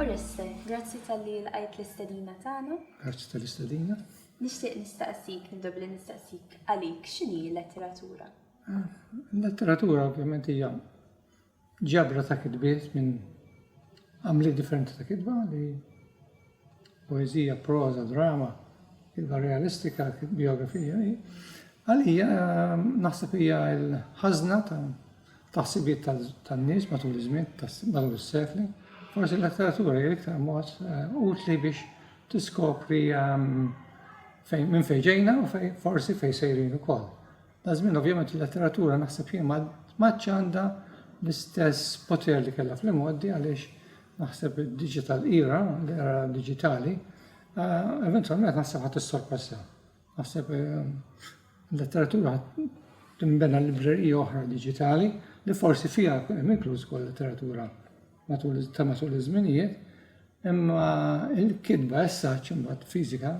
Oreste, grazzi tal-li l-għajt l-istadina tagħna. Grazzi tal-istadina. Nixtieq nistaqsik, nibda billi nistaqsik għalik x'inhi l-letteratura? Ah, l-letteratura ovvjament hija ġabra ta' kitbiet minn għamliet differenti ta' kitba li poeżija, proża, drama, kitba realistika, biografija. Għalija naħseb hija l-ħażna ta' ħsibiet tan-nies matul iż-żmien, matul is-sekli. Forsi l-letteratura hija iktar mod eh, utli biex tiskopri ehm, minn fejn ġejna u forsi fejn sejrin ukoll. Da' żmien ovvjament il-letteratura naħseb jien ma m'għadx għandha l-istess poter li kellha fl-imgħoddi għaliex naħseb id-digital era, l-era diġitali, eventwalment naħseb ħadd issorpassa. Naħseb il-letteratura tinbena librerija oħra diġitali li forsi fiha hemm inkluż ukoll letteratura matul ta' matul iż-żminijiet, imma il-kitba as such imbagħad fiżika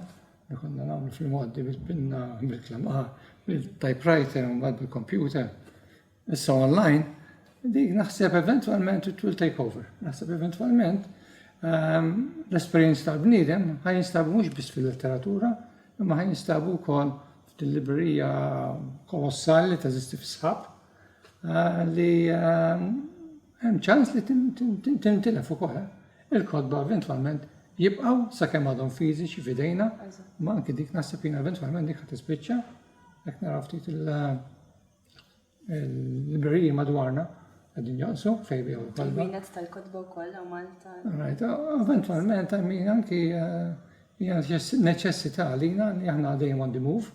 li konna nagħmlu fil-modi bil-pinna, bil-klamaħa, bil-typewriter u mbagħad bil-computer, issa online, dik naħseb eventualment it will take over. Naħseb eventualment ehm, l-esperjenza tal-bniedem ħaj jinstabu mhux biss fil-letteratura, imma ħaj jinstabu wkoll fil-librerija kolossali ta' zisti fis-sħab. li hemm ċans li tintilef ukoll. Il-kotba eventwalment jibqgħu sakemm għadhom fiżiċi f'idejna, ma anke dik naħseb jiena eventwalment dik ħad tispiċċa, jekk naraw ftit il-libreriji madwarna qegħdin jonqsu fejn biegħu l-kotba. Minet tal-kotba wkoll hawn Malta. Right, eventwalment hemm min anki hija neċessità għalina li aħna dejjem on the move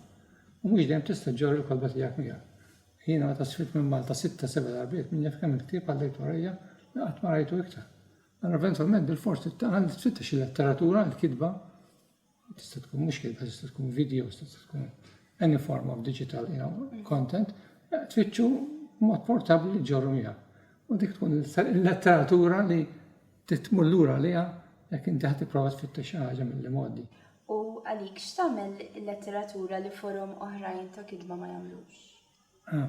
u mhux dejjem tista' ġġorr il-kotba tiegħek miegħek. Jiena meta sirt minn Malta sitta seba' darbiet min jaf kemm il-ktieb għaddejt warajja li qatt ma rajtu iktar. Allura eventwalment bil-fors titqal li tfittex il-letteratura, il-kitba, tista' tkun mhux kitba, tista' tkun videos, tista' tkun any form of digital you know, content, eh, tfittxu mod portabbli li ġorru miegħek. U dik tkun il-letteratura li Trid tmur lura għaliha jekk inti ħa tipprova tfittex xi ħaġa mill-imgħoddi. U għalik, x'tagħmel il-letteratura li forom oħrajn ta' kitba ma jagħmlux?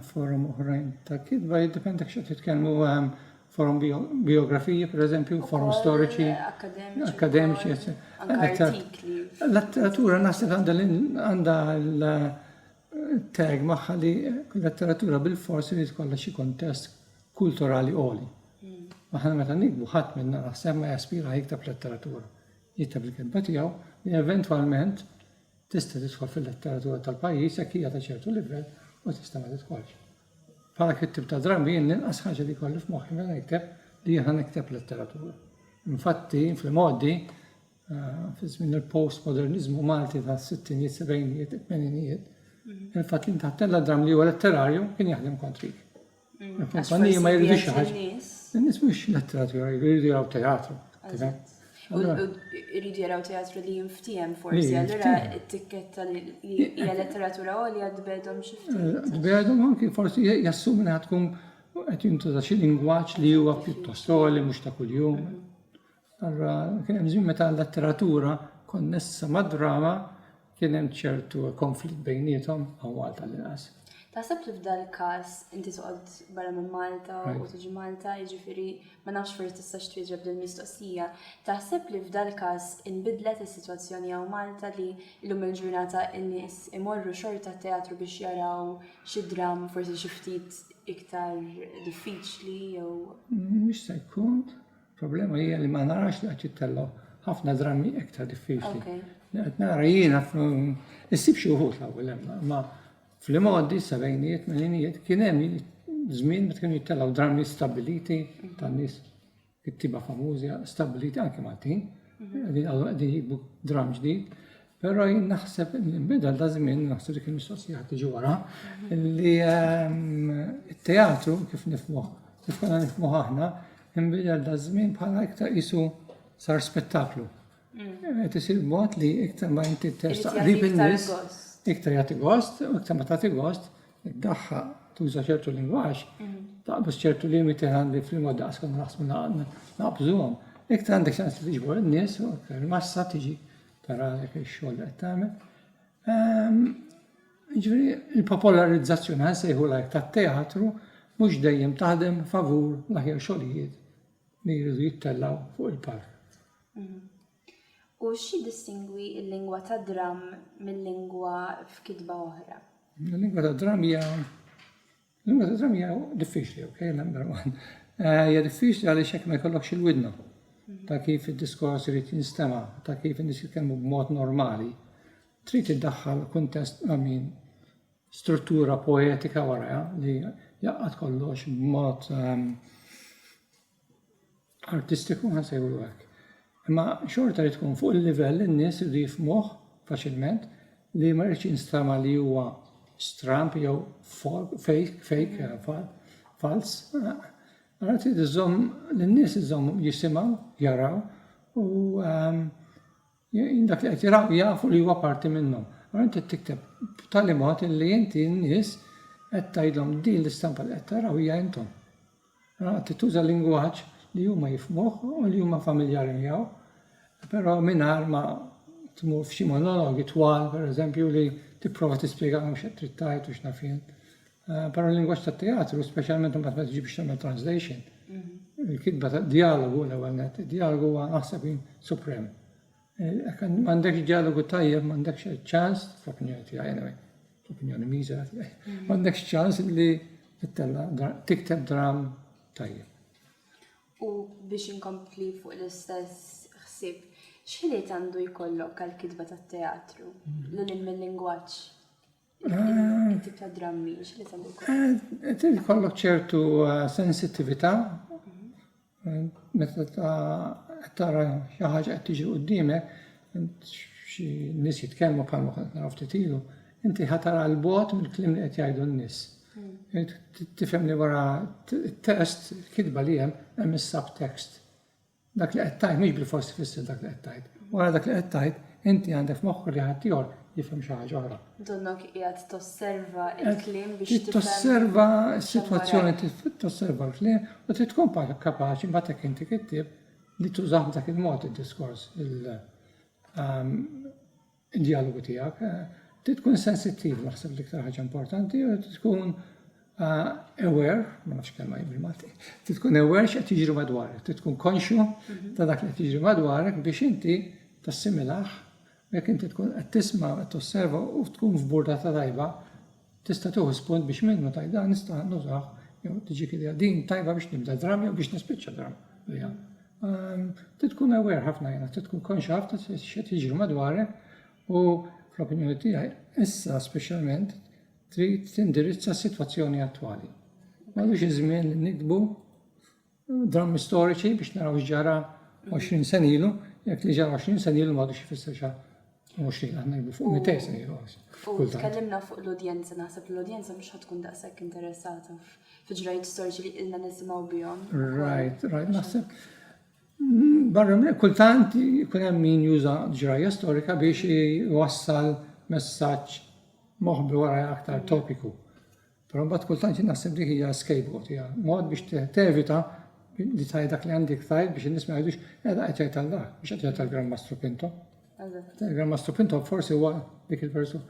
Forom oħrajn ta' kitba jiddependi jekk x'qed titkellmu forom biografiji, per eżempju, forom storiċi, akademiċi, etc. L-letteratura naħseb għandha Tag magħha li letteratura bil-fors irid kollha xi kontest kulturali għoli. Aħna meta nikbu ħadd minna naħseb ma jaspira jiktab letteratura. Jiktab il-kitba tiegħu li eventwalment tista' tidħol fil-letteratura tal-pajjiż jekk hija ta' ċertu livell u tista' ma tidħolx. Bħala kittib ta' drammi jien l-inqas ħaġa li kolli f'moħħi meta nikteb li jiena nikteb letteratura. Infatti, fl-modi, fi żmien il-postmoderniżmu Malti ta' sittinijiet, sebgħinijiet, tmeninijiet, mm. il-fatt li intaħt tella dram li huwa letterarju kien jaħdem kontriki. Mm. Il-kumpanija ma jridux xi ħaġa. In-nies mhux letteratura, jridu jaraw teatru. Irridu jaraw teatru li jinftiem forsi, allura t-tikketta li hija letteratura għolja tbedhom xi ftit. Eh, tbedhom anki forsi jassumi li tkun qed jintuża xi lingwaġġ li huwa pjuttost għoli mhux ta' kuljum. Mm-hmm. Allura kien hemm żmien meta l-letteratura konnessa mad-drama kien hemm ċertu konflitt bejniethom hawn Malta l-inqas. Taħseb li f'dan il-każ inti toqgħod barra minn Malta u tiġi Malta, jiġifieri ma nafx forsi tistax twieġeb din mistoqsija. Taħseb li f'dan il-każ inbidlet is-sitwazzjoni hawn Malta li llum il-ġurnata n-nies imorru xorta t-teatru biex jaraw xi dramm forsi xi ftit iktar diffiċli jew. Jista' jkun. Il-problema hija li ma narax li qed jittellgħu ħafna drammi iktar diffiċli. Li qed nara jiena issib xi wħud l-ewwel hemm, ma fl-imgħoddi sebgħinijiet melinijiet kien hemm żmien meta kienu jittellgħu drammi stabbiliti tan-nies kittiba famużi stabbiliti anke Maltin, mhm. qegħdin jikbu dramm ġdid. Però jien naħseb bidel ta' żmien, naħseb dik il-mistoqsija ħadd tiġi wara, li ehm, t-teatru kif nifmuh, kif konna nifmuh aħna, imbidel ta' żmien bħala iktar isu sar spettaklu. Mm. Qed isir mod li iktar ma inti testaqrib in-nies, iktar jagħti gost, u iktar ma tagħti gost, id-daħħa tuża ċertu lingwaġġ, mm. taqbż ċertu limiti għandi fl-mod daqs konna naħsbu naqbżuhom. Iktar għandek ċans li tiġbor in-nies u iktar massa tiġi Tara għalhekk ix-xogħol li qed tagħmel. Ehm, ġifieri il-popolarizzazzjoni għan sejħu lajk tat-teatru mhux dejjem taħdem favur l-aħjar xogħlijiet li jridu jittellaw fuq il-palk. Mhm. U xi distingwi l-lingwa ta' dram mill-lingwa f'kitba oħra? Il-lingwa ta' dram hija L-ewwel eżami hija diffiċli, ok, number one. Eh, hija diffiċli għaliex hekk ma jkollokx il-widna ta' kif id-diskors irid jinstema, ta' kif in-nies jitkellmu b'mod normali. Trid iddaħħal kuntest għamin struttura poetika wara li jaqqat kollox b'mod ehm, artistiku ħa nsejħulu hekk. Imma xorta li tkun fuq il-livell li n-nies iridu jifhmuh faċilment li ma jridx jinstama li huwa stramb jew fake, fake, fals. Allora trid iżomm lin-nies iżomm jisimgħu, jaraw u ehm, Dak li qed jaraw jafu li huwa parti minnhom. Allura inti tikteb b'tali mod li inti n-nies qed tgħidhom din l-istampa li qed taraw hija intom. Allura qed tuża lingwaġġ li huma jifmuh u li huma familjari miegħu, però mingħajr ma tmur f'xi monologi twal, pereżempju, li tipprova tispjegalhom x'qed trid tgħid u x'naf jien. Eh, Para l-lingwaġġ tat-teatru, speċjalment imbagħad meta tiġi biex tagħmel translation, mm-hmm. il-kitba ta' dialogu l-ewwel net, dialogu huwa naħseb jien suprem. Eh, m'għandekx dialogu tajjeb, m'għandekx ċans, fl-opinjoni tiegħi anyway, fl-opinjoni miżera tiegħi, mm-hmm. m'għandekx ċans li tittella tikteb dram tajjeb. U biex inkompli fuq l-istess ħsieb, x'ħiliet għandu jkollok għal-kitba tat-teatru, mm-hmm. l-lingwaġġ? It-tip ta' drammi, x'li se jkun? Trid ikollok ċertu eh, sensittività eh, meta ta' tara xi ħaġa qed tiġi qudiemek, xi nies jitkellmu bħalma kont naraw ftit ilu, inti ħatara l-bot mill-klim li qed jgħidu n-nies. Hmm. Tifhem li wara t-test, kitba li hemm hemm is-subtext. Dak li qed tgħid mhux bilfors ifisser dak li qed tgħid. Wara dak li qed tgħid, inti għandek f'moħħok li ħaddieħor jifhem xi ħaġa oħra. Donnok qiegħed tosserva l-kliem biex tifhem. Trid tosserva s-sitwazzjoni, trid tosserva l-kliem u trid tkun kapaċi mbagħad jekk inti kittieb li tużah b'dak il-mod id-diskors. id-djalogu tiegħek. Trid tkun sensittiv naħseb l-iktar ħaġa importanti u trid tkun aware, ma nafx kelma jien bil-Malti, trid tkun aware x'qed jiġri madwarek, trid tkun konxju mhm. ta' dak li qed jiġri madwarek biex inti tassimilaħ jekk inti tkun qed tisma' qed tosserva u tkun f'burda ta' tajba Tista' tieħu spunt biex minnu tgħid dan nista' nużah jew tiġik idea din tajba biex nibda dramm jew biex nispiċċa dramm biha. Ehm, trid tkun aware ħafna jiena, trid tkun konxja ħafna x'qed jiġri madwarek u fl-opinjoni tiegħi issa speċjalment trid tindirizza s-sitwazzjoni attwali. M'għadux iż-żmien li nikdbu drammi storiċi biex naraw x'ġara 20 sen ilu, jekk li ġara 20 sen ilu m'għadux ifisser xa mhux li aħna jibdu fuq 200 sen ilu. U tkellimna fuq l-udjenza, naħseb l-udjenza mhux ħad tkun daqshekk interessata f'ġrajiet storiċi li ilna nisimgħu bihom. Right, right, naħseb. Mm, barra minn kultant jkun hemm min juża ġrajja storika biex iwassal messaġġ moħbi wara aktar topiku. Però mbagħad kultant jien naħseb dik hija scapegoat, hija mod biex tevita li tgħid dak li għandek tgħid biex in-nies ma jgħidux qiegħda qed jgħid Alla, biex qed jgħid tal-Gran Mastru Pinto. Il-Gran Mastru Pinto forsi huwa dik il-persu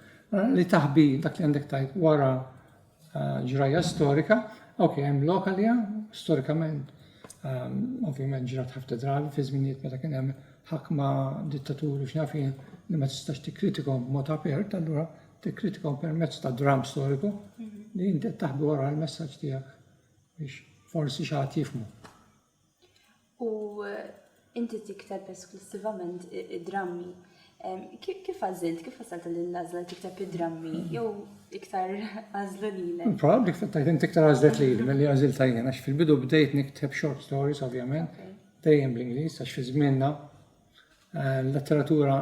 li taħbi dak li għandek tgħid wara eh, ġrajja storika, ok, hemm lokalija, storikament, ehm, ovvjament ġrat ħafna drabi fi żminijiet meta kien hemm ħakma dittaturi x'nafin li ma tistax tikkritikom mod apert, allura tikkritikaw permezz ta' dram storiku li inti qed taħbi wara l-messaġġ tiegħek biex forsi xi ħadd jifhmu. U eh, inti tikteb esklusivament id-drammi. Kif għażilt, kif għażilt l-għażla tikteb id-drammi jew iktar għażlu lilek? Probabbli kif tajt inti iktar għażlet lili milli għażilt tajjen għax fil-bidu bdejt nikteb short stories ovvjament, dejjem bl-Ingliż għax fi żmienna eh, letteratura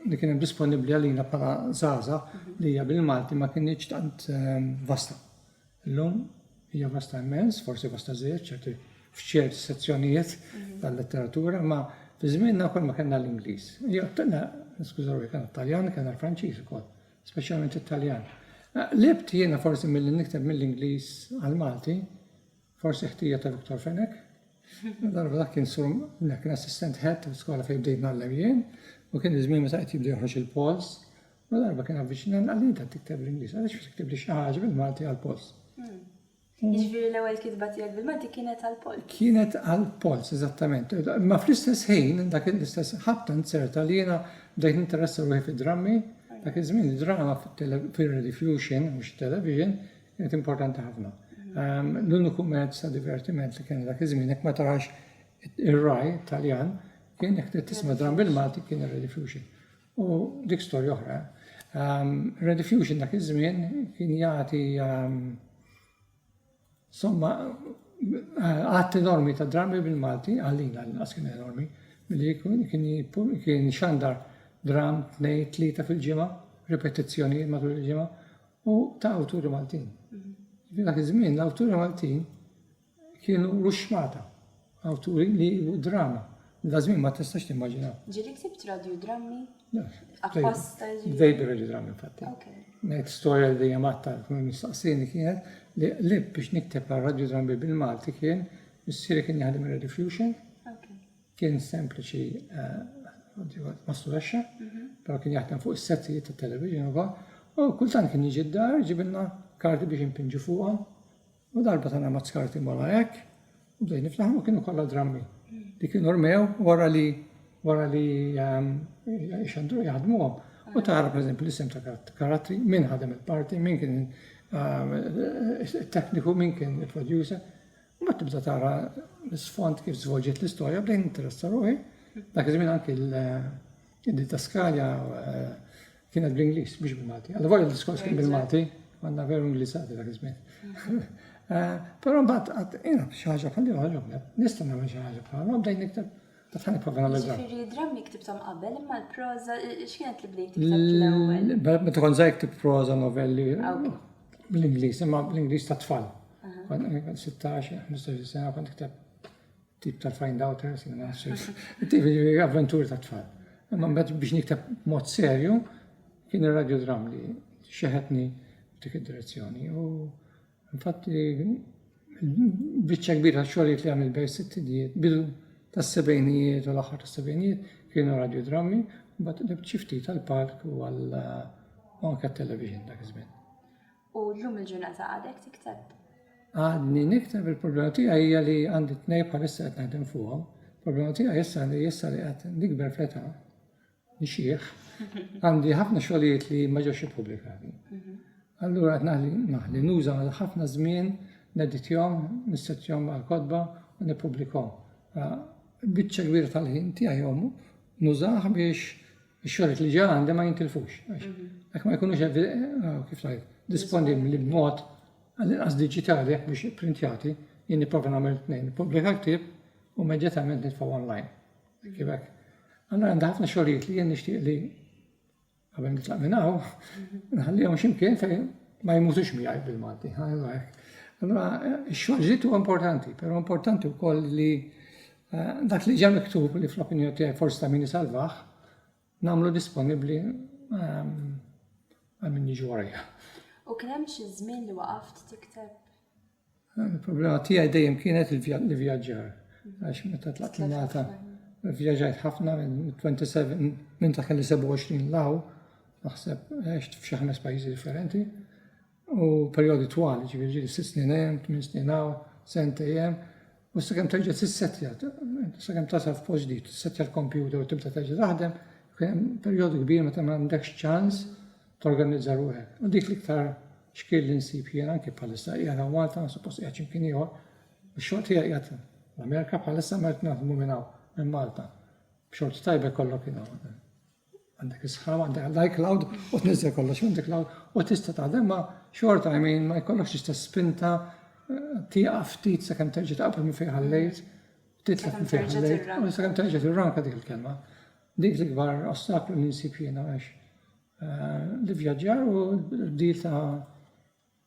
li kien hemm disponibbli għalina bħala zaza li hija bil-Malti ma kienx tant eh, vasta. Illum hija vasta immens, forsi vasta żejjed ċerti f'ċerti sezzjonijiet mhm. tal-letteratura, ma fi żmienna wkoll ma kellna l-Ingliż. Jew kellna, skużaw, kellna Taljan, kellna l-Franċiż ukoll, speċjalment it-Taljan. Eh, libt jiena forsi mill-li nikteb mill-Ingliż għal-Malti, Forsi ħtija ta' Viktor Fenech. Darba dak kien sum li kien assistent head ta' skola fejn bdejt nagħllem jien u kien iż-żmien meta qed jibda joħroġ il-pols. U darba kien avviċina għal inta tikteb l-Ingliż, għaliex ma tiktibli xi ħaġa bil-Malti għall-pols. Hmm. Hmm. Jiġifieri l-ewwel kitba tiegħek bil-Malti kienet għall-pols. Kienet għall-pols, eżattament. Ma fl-istess ħin, dak l-istess ħabta nzerta li jiena bdejt ninteressa ruħi fid-drammi, dak iż-żmien id-drama fir-rediffusion, mhux television, Kienet importanti ħafna. Ehm, l-uniku mezz ta' divertiment li kien dak iż-żmien, jekk ma tarax ir-raj Taljan, kien jekk tisma' dram bil-Malti kien ir-Rediffusion. U dik storja oħra. Ehm, Rediffusion dak iż-żmien kien jagħti ehm, somma għat enormi ta' drami bil-Malti, għallina l-inqas kien enormi, li kien xandar dram tnej tlita fil-ġimgħa, ripetizzjoni matul il-ġimgħa, u ta' awturi Maltin. Jiġifieri dak iż-żmien l-awturi Maltin kienu ruxmata, awturi li u drama. Da żmien ma tistax timmaġina. Ġieli ktibt radiodrammi? Apposta ġieli. Bdejt bir-radiodrammi infatti. Ngħid storja li dejjem għatta kien mistaqsini kienet li qlib biex nikteb għal radiodrammi bil-Malti kien missieri kien jaħdem ir-Radio Fusion. Kien sempliċi masturexxa, però kien jaħdem fuq is-settijiet ta' television u u kultant kien jiġi d-dar ġibilna karti biex impinġu fuqhom. U darba tana mazz karti mala hekk, u bdej niftaħ u kienu kollha drammi. Li kienu rmew wara li wara li ehm, xandru jaħdmuhom. U tara per eżempju l-isem ta' karatri, min ħadem il-parti, min kien ehm, tekniku, min kien il-producer. Mbagħad tibda tara l-isfond kif żvolġiet l-istorja bdejn interessa ruħi. Dak iż-żmien anki l-didaskalja eh, kienet bl-Ingliż biex bil-Malti. Għal volja l-diskors kien bil-Malti, għandna veru Ingliżati dak iż-żmien. Mm. Eh, però mbagħad qatt jiena xi ħaġa bħal li ħaġa nista' nagħmel xi ħaġa bħal ma bdejn nikteb Tafħani provena l Ġifiri, drammi ktibtom qabel, imma l-proza, xienet li bdejt l-ewel? Meta kon zaħi ktib proza, novelli. Ah, bl-Ingliż, imma bl-Ingliż ta' tfal. 16, 15 sena kont ktab tip tal-find outers, tip avventuri ta' tfal. Imma mbagħad biex niktab mod serju kien ir-radju dram li xeħetni dik id-direzzjoni. U infatti Biċċa kbira tax-xogħlijiet li għamilt bejn is-sittinijiet, bidu tas-sebgħinijiet u l-aħħar tas-sebgħinijiet kienu radjodrammi, mbagħad qlibt xi ftit għall-palk u għal u anke għat-television dak iż-żmien. U llum il-ġurnata għadek tikteb? Għadni nikteb il-problema tiegħi hija li għandi tnej bħalissa qed naħdem fuqhom. Il-problema tiegħi issa li issa li qed nikber fl-età Ix-xiħ, għandi ħafna xogħlijiet li ma ġewx ippubblikati. Allura qed naħli naħli nuża għal ħafna żmien neditjom, nissettjom għal kotba u nippubblikom. Biċċa kbira tal-ħin tiegħi jom nużah biex ix-xogħlijiet li ġa għandi ma jintilfux. Jekk ma jkunux kif ngħid, disponibbli b'mod għall-inqas diġitali jekk mhux ipprintjati, jien nipprova nagħmel tnejn, nippubblika ktieb u immedjatament nitfgħu online. Thank you back. Allora għandha ħafna xogħlijiet li jien nixtieq li qabel nitlaq minn hawn, nħallihom x'imkien fejn ma jmutux miegħi bil-Malti. Allora x-xogħlijiet huwa importanti, però importanti wkoll li eh, dak li ġa miktub li fl-opinjoni tiegħi forsi ta' min isalvaħ, nagħmlu disponibbli ehm, għal min jiġu warajja. U kien hemm xi żmien li waqaft tikteb? Il-problema tiegħi dejjem kienet il-vjaġġar. Għax meta tlaqt l-Malta, vjaġġajt ħafna minn 27, minn ta' kelli 27 law, naħseb għext f'xi ħames pajjiżi differenti. U perjodi twal, ġifieri ġieli sitt snin hemm, tmien snin hawn, sentejn hemm. U sakemm terġa' tissettja, sakemm tasal f'post ġdid, tissettja l-kompjuter u tibda terġa' taħdem, kien hemm perjodu kbir meta ma għandekx ċans torganizza ruħek. U dik l-iktar xkil li nsib jien anke bħalissa qiegħed hawn Malta, suppost qiegħed x'imkien ieħor, ix-xogħol tiegħi qiegħed l-Amerika bħalissa ma qed naħdmu minn hawn, minn Malta. B'xorti tajba jkollok jien hawn. Għandek is-sħab, għandek l-iCloud u tniżżel kollox minn iCloud u tista' taħdem ma' xorta I mean ma jkollokx l-istess spinta eh, tieqaf ftit sakemm terġa' taqbel minn fejn ħallejt, titlaq minn fejn ħallejt, u sakemm terġa' tirranka dik il-kelma. Dik l-ikbar ostaklu li nsib jiena għax eh, li vjaġġar u l-bdil ta'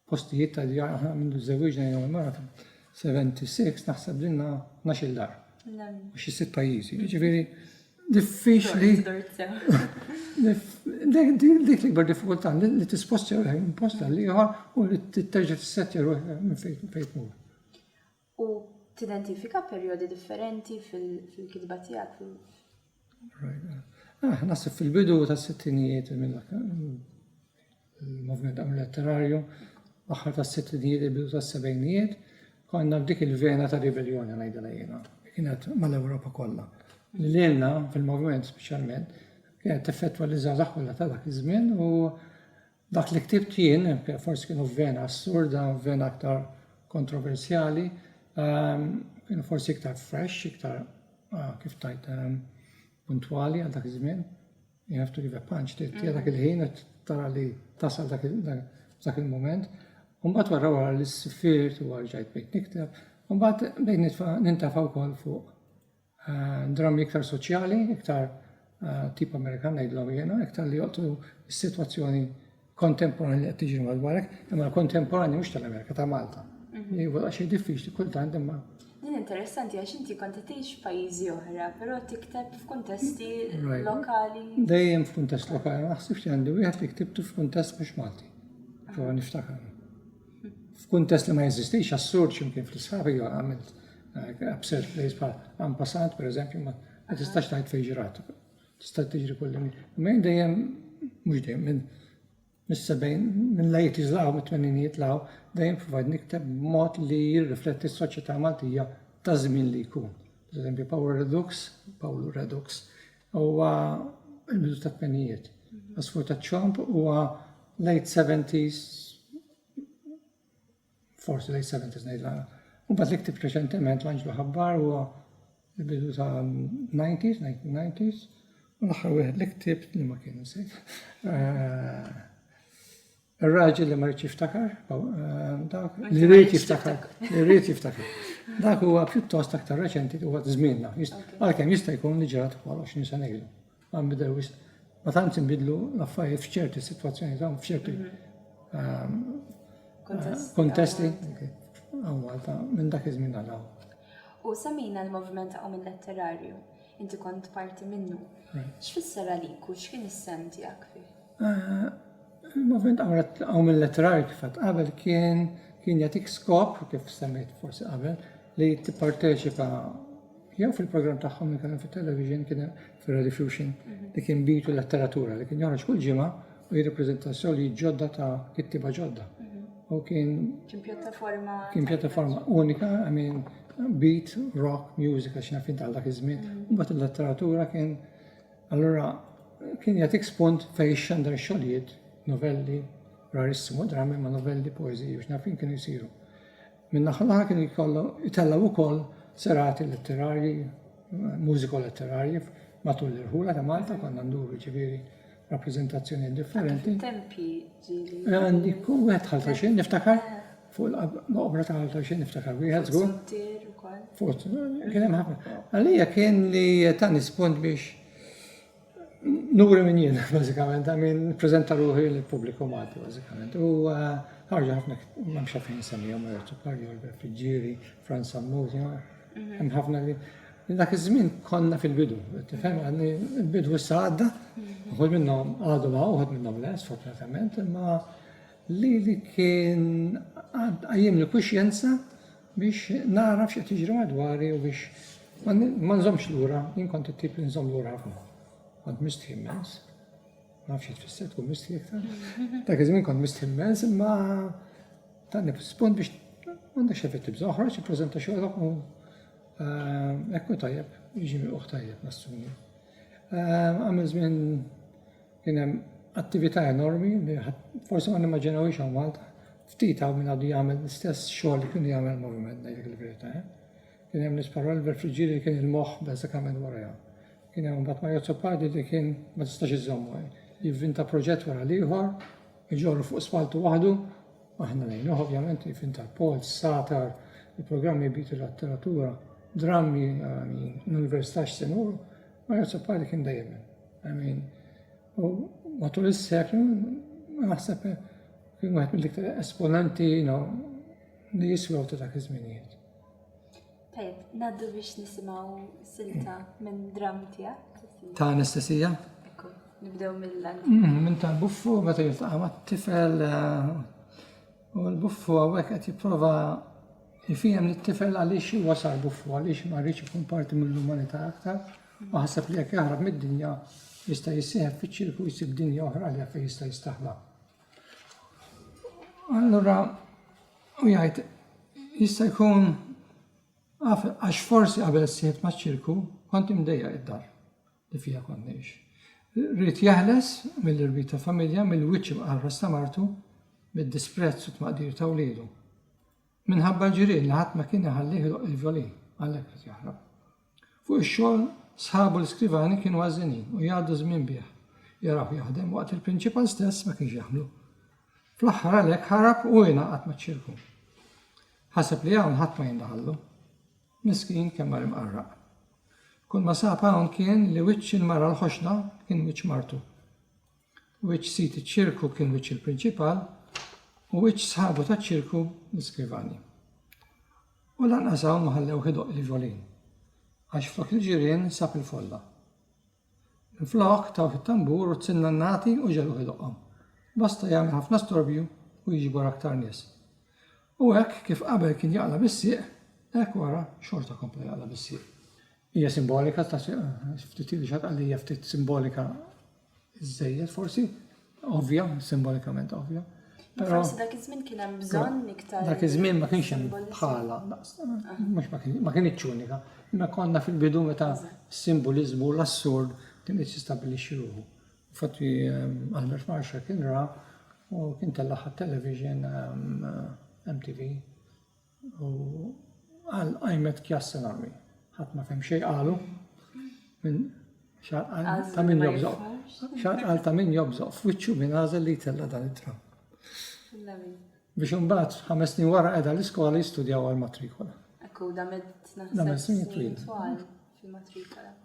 postijiet ta' djar aħna mindu żewwiġna jiena u marati 76 naħseb dinna 12 dar. U xi sitt pajjiżi. Ġifieri diffiċli. Dik l-ikbar diffikultà li tisposti ruħek minn post għal ieħor u li titterġa' tissettja ruħek minn fejn fejn tmur. U tidentifika perjodi differenti fil-kitba tiegħek fil- Ah, nasib fil-bidu ta' sittinijiet il-moviment għam letterarju, aħħar ta' sittinijiet il-bidu ta' sebejnijiet, konna f'dik il-vena ta' ribelljoni ngħidha lejna. Kienet mal-Ewropa kollha. Lilna fil-moviment speċjalment kienet teffettwa li żgħażagħ kollha ta' dak iż-żmien u Dak li ktibt jien, forsi kienu f'vena assurda, f'vena aktar kontroversjali, kienu forsi iktar fresh, iktar kif tajt puntwali għal dak iż-żmien. You have to give a punch, tira dak il-ħin u tara li tasal dak il-moment. Umbat wara wara li s-sifirt u għarġajt bejt nikteb, umbat bejt nintafa wkoll fuq Drammi iktar soċjali, iktar tip Amerikan ngħidlhom jiena, iktar li joqtu s-sitwazzjoni kontemporanja li qed tiġri madwarek, imma kontemporanja mhux tal-Amerika ta' Malta. Mhm. Jivol għax diffiċli kultant imma. Din interessanti għax inti kont tgħix f'pajjiżi oħra, però tikteb f'kuntesti lokali. Dejjem f'kuntest lokali, ma ħsibx li għandi wieħed li ktibtu f'kuntest mhux Malti. Prova niftakar. F'kuntest li ma jeżistix assurd x'imkien fl-isħabi għamilt Absurd place bħal en passant, per eżempju, ma tistax taħt fejn ġrat. Tista' tiġri kull minn dejjem mhux dejjem minn mis-sebgħin minn la jitizlaw mit-tmeninijiet law dejjem provajd nikteb mod li jirrifletti s-soċjetà Maltija ta' żmien li jkun. Per eżempju, Power Redux, Pawlu Redux, huwa il-bidu ta' tmenijiet. Asfur ta' ċomp huwa late 70s Forsi late 70s ngħid l Mbagħad li ktibt reċentement l-Anġlu Ħabbar huwa l-bidu ta' 90s, 1990s, u l-aħħar wieħed li ktibt li ma kien nsejt. Eh, Ir-raġel li ma rridx jiftakar, eh, dak li rrid jiftakar, li rrid jiftakar. Dak huwa pjuttost aktar reċenti huwa żmienna. Għalkemm jista' jkun li ġrat wara 20 sena ilu. Ma nbidel wisq. Ma tantx inbidlu l-affarijiet f'ċerti sitwazzjonijiet hawn f'ċerti ehm, kontesti hawn Malta minn dak iż-żmien għal hawn. U semmejna l-moviment ta' minn letterarju, inti kont parti minnu. X'fisser għalik u x'kien is-sem tiegħek fih? Eh, il-moviment għaw minn letterarju kif qabel kien kien jatik skop, kif semmejt forsi qabel, li tipparteċipa Jew fil-programm tagħhom li kellhom fit-television kien hemm fir-Radiofusion li kien bitu letteratura li kien joħroġ kull ġimgħa u jirrappreżenta soli ġodda ta' kittiba ġodda. U kien kien pjattaforma kien pjattaforma unika, I mean beat, rock, music għax nafin ta' dak iż-żmien. Mm. U mbagħad il-letteratura kien allura kien jagħtik spunt fejn xandar xogħlijiet, novelli, rarissimu drammi ma' novelli, poeżiji u x'nafin kienu jsiru. Minn naħa l-oħra kienu jkollu jtellgħu wkoll serati letterarji, mużiko-letterarji matul l-irħula ta' Malta konna nduru ġifieri rappreżentazzjonijiet differenti. Tempji ġieli. Għandi kull wieħed ħalta xejn niftakar fuq l-obra ta' ħalta xejn niftakar wieħed żgur. Frontier ukoll. Fuq kien hemm ħafna. Għalija kien li ta' nispont biex Nuri min jien, bażikament, I mean, nippreżenta ruħi lill-pubbliku Malti, bażikament. U eh, ħarġa ħafna, m'hemmx għalfejn insemmihom Roberto Cardio, Albert Fiġġieri, Franz Sammuti, mhm. hemm ħafna li dak iż-żmien konna fil-bidu, tifhem għadni il-bidu issa għadda, mhm. uħud minnhom għadu ma uħud minnhom le, sfortunatament, imma li li kien għajjem li kuxjenza Biex nagħraf x'qed jiġri madwari u biex ma nżommx lura, jien kont it-tip li nżomm lura ħafna. Kont mistħi immens. Ma nafx xi tfisser tkun mistħi iktar. Dak iż-żmien kont mistħi immens imma tani spunt biex m'għandek xejn fit-tibż oħroġ ippreżenta xogħolok u eh, ekku tajjeb, jiġi miqgħuh tajjeb nassumi. Eh, għamil żmien Kien hemm attività enormi li forsi ma nimmaġinawhiex hawn Malta. Ftit hawn min għadu jagħmel l-istess xogħol li kienu jagħmel il-moviment ngħidlek il-verità. Eh? Kien hemm nies bħal Oliver Friggieri li kien il-moħħ bażikament warajha. Kien hemm mbagħad Mario Zopardi li kien ma tistax iżommu eh? jivvinta proġett wara l-ieħor, iġorru fuq spaltu waħdu, aħna lejnuh ovvjament jivvinta l-pol, satar, il-programmi bit il-letteratura, drammi, l-università x'senuru, Mario Zopardi kien dejjem hemm. Amin. U matul is-seklu naħseb kien wieħed mill-iktar esponenti li jiswew ta' dak iż-żminijiet. Tajb, naddu biex nisimgħu silta minn dram tiegħek. Ta' anestesija? Ekku, nibdew mill-lan. Mm, minn tal-buffu meta jiltaqa' mat-tifel eh, u l-buffu hawnhekk qed jipprova jfihem lit-tifel għaliex wasal buffu għaliex ma rridx ikun parti mill-umanità aktar. Imma ħaseb li jekk jaħrab mid-dinja, jista' jissieħeb fiċ-ċirku jsib dinja oħra li fejn jista' jistaħba. Allura u jgħid jista' jkun għax forsi qabel sieħeb maċ-ċirku kont imdejja id-dar li fija kont ngħix. Rrid jeħles mill-irbit ta' familja, mill-wiċċ imqarras ta' martu, mid-disprezz u tmaqdir ta' wliedu. Minħabba l-ġirien li ħadd ma kien iħallih idoqq il-vjolin, għalhekk ried jaħrab. Fuq ix-xogħol, sħabu l-iskrivani kienu għażżinin u jgħaddu ż-żmien bih, jarawh jaħdem waqt li l-prinċipal stess ma kienx jagħmlu. Fl-aħħar għalhekk ħarab u ingħaqad maċ-ċirku. Ħaseb li hawn ħadd ma jindaħallu. Miskin kemm mar imqarraq. Kull ma sab hawn kien li wiċċ il-mara l-ħoxna kien wiċċ martu. which sid iċ-ċirku kien which il-prinċipal, u which sħabu taċ-ċirku l-iskrivani. U lanqas hawn ma ħallewh idoqq il-ġolin, għax flok il-ġirien sab il-folla. Minflok tawh it-tambur u t-sinnannati u ġegħluh idoqqhom. Basta jagħmel ħafna storbju u jiġbor aktar nies. U hekk kif qabel kien jaqla' bis-sieq, hekk wara xorta kompla jaqla' bis-sieq. Hija simbolika ta' ftit li xatqalija ftit simbolika Żejjed forsi, ovvja, simbolikament ovvja. Però forsi dak iż-żmien kien hemm bżonn iktar. Dak iż-żmien ma kienx hemm bħala, mhux ma kienx unika, imma konna fil-bidu meta s-simboliżmu l-assurd kien qed jistabbilixxi ruħu. Fatti Albert ehm, Marshall kien ra u kien tellaħ television ehm, MTV U qal qajmet kjas salami. Ħadd ma fhem xejn qalu. Min xaqal ta' min jobżoq. Xaqal ta' min jobżoq f'wiċċu min għażel li jtella dan it-tram. Biex imbagħad ħames snin wara qiegħda l-iskola jistudjaw għal matrikola. Ekku da med snin twil.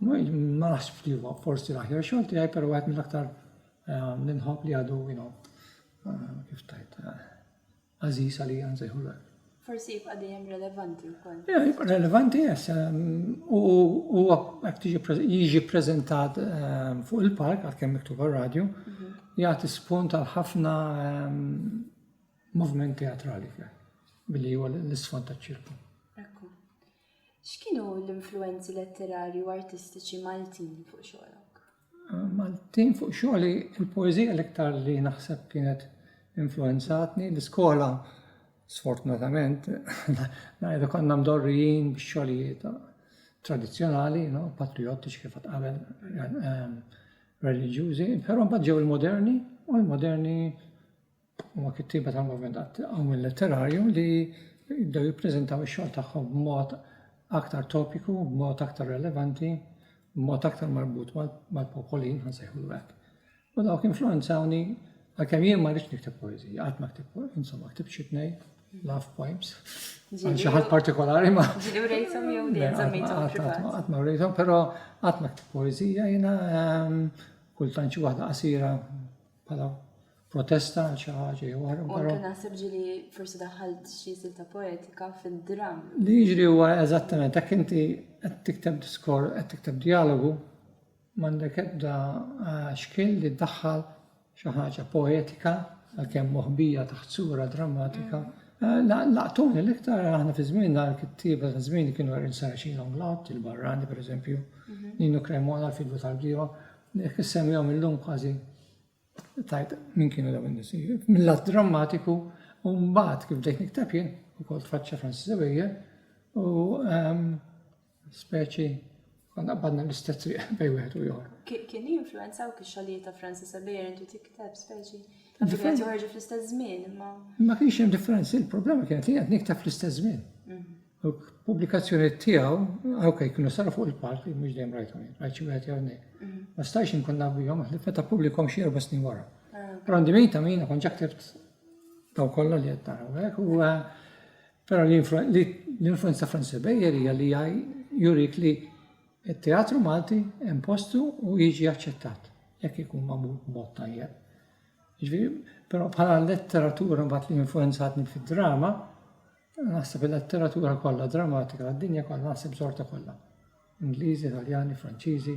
Ma naħsibx li huwa forsi l-aħjar xogħol tiegħi, però wieħed mill-aktar eh, ninħobb li għadu, you know, eh, kif tajt, eh, Għażiż għalija nsejħulek. Forsi jibqa' dejjem relevanti wkoll. Ja, jibqa' relevanti jess. U huwa hekk jiġi ppreżentat ehm, fuq il-park għalkemm miktub għar-radju, mhm. jagħti spunt għal ħafna ehm, moviment teatrali fih billi huwa l-isfond taċ-ċirku. Ekku. X'kienu l-influenzi letterari u artistiċi Maltin fuq xogħolok? Maltin fuq xogħli il-poeżija l-iktar li naħseb kienet influenzatni l-iskola sfortunatament ngħidu konna mdorrijin bix-xogħlijiet tradizzjonali, no, patriottiċi kif qabel ehm, reliġjużi, però mbagħad ġew il-moderni u l-moderni Huma kittieba tal-moviment għat-tqawwil letterarju li jibdew jippreżentaw ix-xogħol tagħhom b'mod aktar topiku, b'mod aktar relevanti, b'mod aktar marbut mal-popolin, ħa nsejħulu hekk. U dawk influenzawni għalkemm jien ma rridx nikteb poeżija, qatt ma ktib, insomma, ktib xi tnej, love poems, għal xi ħadd partikolari ma. Ġieli rejthom jew din żammejthom privat. Qatt ma rejthom, però qatt ma ktib poeżija jiena ehm, kultant xi waħda qasira bħala protesta għal xi ħaġa jew oħra. U anke naħseb ġili forsi daħalt xi silta poetika fid-dramm. Li jiġri huwa eżattament hekk inti qed tikteb diskor, qed tikteb dialogu, m'għandek ebda eh, xkil li ddaħħal xi ħaġa poetika għalkemm moħbija taħt sura drammatika. Mm. Eh, laqtuni l-iktar aħna fi żmien dan kittieba ta' żmien kienu għerin saraċin l-onglot, il-barrani pereżempju, mhm. Ninu Kremola, l-fidu tal-bdiewa, jekk issemmihom illum kważi Tajb, min kienu daw in-nies? Mill-lat drammatiku, u mbagħad kif bdejt niktab jien, ukoll tfaċċa Francis Xavier, u ehm, speċi għanna qbadna l-istess triq bej wieħed u ieħor. Kien influenza u kixxolijiet ta' Francis Xavier intu tikteb speċi. Differenza joħorġu fl-istess żmien, imma. Ma kienx hemm differenzi, il-problema kienet li qed niktab fl-istess żmien. Mhm. Pubblikazzjonijiet tiegħu, ok, kienu saru fuq il-palk, mhux dejjem rajtu jien, rajt xi wieħed jew nej. Mm. Ma stajx inkun naf bihom, meta pubblikom xi erba' snin wara. Ah. Però għandi min ta' min kont ġaktibt daw kollha li qed naraw hekk u eh, però l-influenza Francis Bejer hija li jurik li t-teatru Malti hemm postu u jiġi aċċettat jekk ikun magħmul b'mod tajjeb. Ġifieri, però bħala letteratura mbagħad li influenzatni fid-drama, Naħseb il-letteratura kollha drammatika tad-dinja kollha naħseb żorta kollha. Ingliżi, Italjani, Franċiżi,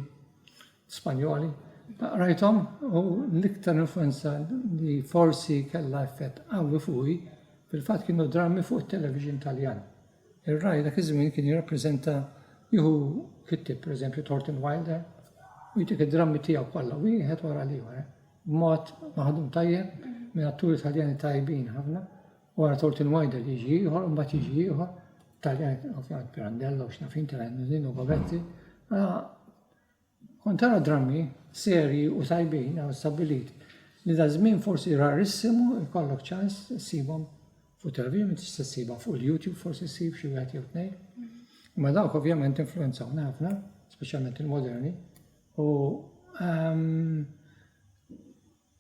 Spanjoli. Rajthom u l-iktar influenza li forsi kellha effett qawwi fuqi fil-fatt kienu drammi fuq it-television Taljan. Ir-raj dak iż-żmien kien jirrappreżenta jieħu kittib, pereżempju Thornton Wilder, u jtik id-drammi tiegħu kollha wieħed wara l-ieħor. Eh? B'mod maħdum tajjeb minn atturi Taljani tajbin ħafna Wara Thornton Wider jiġi ieħor u mbagħad jiġi ieħor Taljan ovvjament Pirandello u x'nafin Taljan u Govetti. Mela kont tara drammi serji u tajbin għaw stabbilit li da żmien forsi rarissimu jkollok ċans ssibhom fuq televizjoni tista' ssibha fuq il-YouTube forsi ssib xi wieħed jew tnejn. Ma dawk ovvjament influenzawna ħafna, speċjalment il-moderni, u ehm,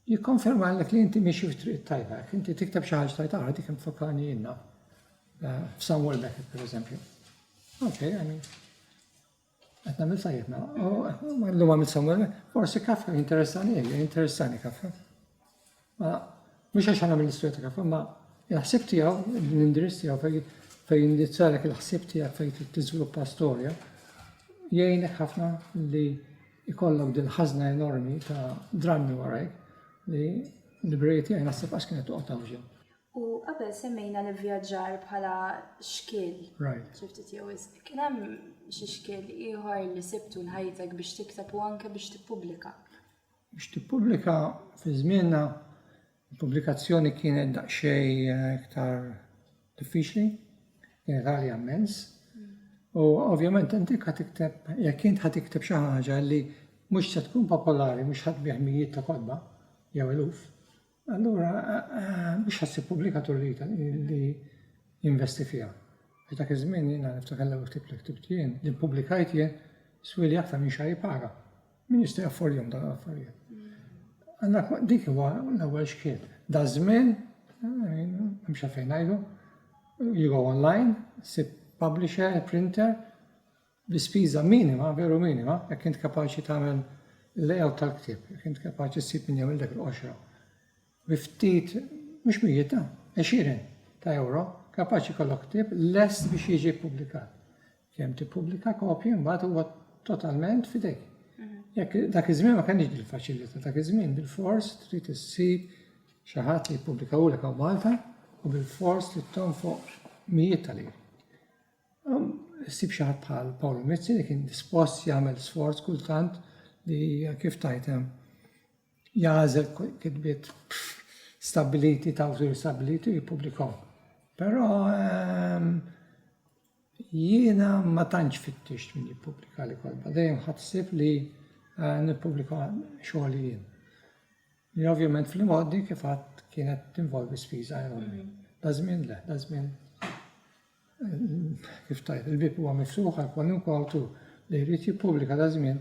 Jikkonfermalek li inti miexi fit-triq it-tajba. Jekk inti tikteb xi ħaġa tajt ara dik infakkarni jiena eh, f'Samuel Beckett pereżempju. Ok, I mean. Qed nagħmel tajjeb mela. Oh, eh, ma llum għamil Samuel, forsi Kafka interessani eh, interessani Kafka. Ma mhux għax nagħmel l-istorja ta' Kafka, ma il-ħsieb tiegħu, l-indirizz tiegħu fejn indizzalek il-ħsieb tiegħek fejn tiżviluppa storja, jgħinek ħafna li ikollok din ħażna enormi ta' drammi warajk li l-librerija tiegħi naħseb qatt kienet toqgħod tgħawġha. U qabel semmejna l-ivvjaġġar bħala xkiel. Right. Xi ftit jew wisq. Kien hemm xi xkiel ieħor li sibtu l-ħajtek biex tikteb u anke biex tippubblika? Biex tippubblika fi żmienna Il-pubblikazzjoni kienet daqsxejn iktar diffiċli, kienet għalja immens. U ovvjament inti ħa tikteb, jekk int ħa tikteb xi ħaġa li mhux se tkun popolari, mhux ħadd bih mijiet ta' kotba jew eluf, allura mhux ħassib pubblikatur li jinvesti fiha. Għax dak iż-żmien jiena niftakar l-ewwel ktieb li ktibt jien, li ppubblikajt jien, swieli aktar minn xahar jipara. Min jista' jaffordjom dan l-affarijiet? Għanna dik huwa l-ewwel xkiel. Da żmien, mhux eh, fejn ngħidu, you go online, sib publisher, printer, bi spiża minima, veru minima, jekk int kapaċi tagħmel l-layout tal-ktieb, jekk int kapaċi ssib minn jew il-dek l-qoxra. bi ftit, mhux mijiet, ah, għexieren ta' ewro, kapaċi jkollok ktieb lest biex jiġi ppubblikat. Kemm tippubblika kopji mbagħad huwa totalment fidejk. Mhm. Jekk dak iż-żmien ma kenniex dil-faċilità, dak iż-żmien bil-fors trid issib xi ħadd li jippubblikawlek hawn Malta u bil-fors li tonfoq mijiet tal-ir. Um, issib xi ħadd bħal Paolo Mizzi li kien dispost jagħmel sforz kultant li kif tajtem jagħżel kitbiet stabbiliti ta' awtur stabbiliti u jippubblikahom. Però ehm, jiena ma tantx fittixt min jippubblika li kolba, dejjem ħadsib li eh, nippubblika xogħol jien. Li ovvjament fil-moddi kif għad kienet tinvolvi spiża enormi. Mm. Da żmien le, da żmien eh, kif tajt, il-bib huwa mifsuħ għal kwalunkwe awtur li jrid jippubblika da żmien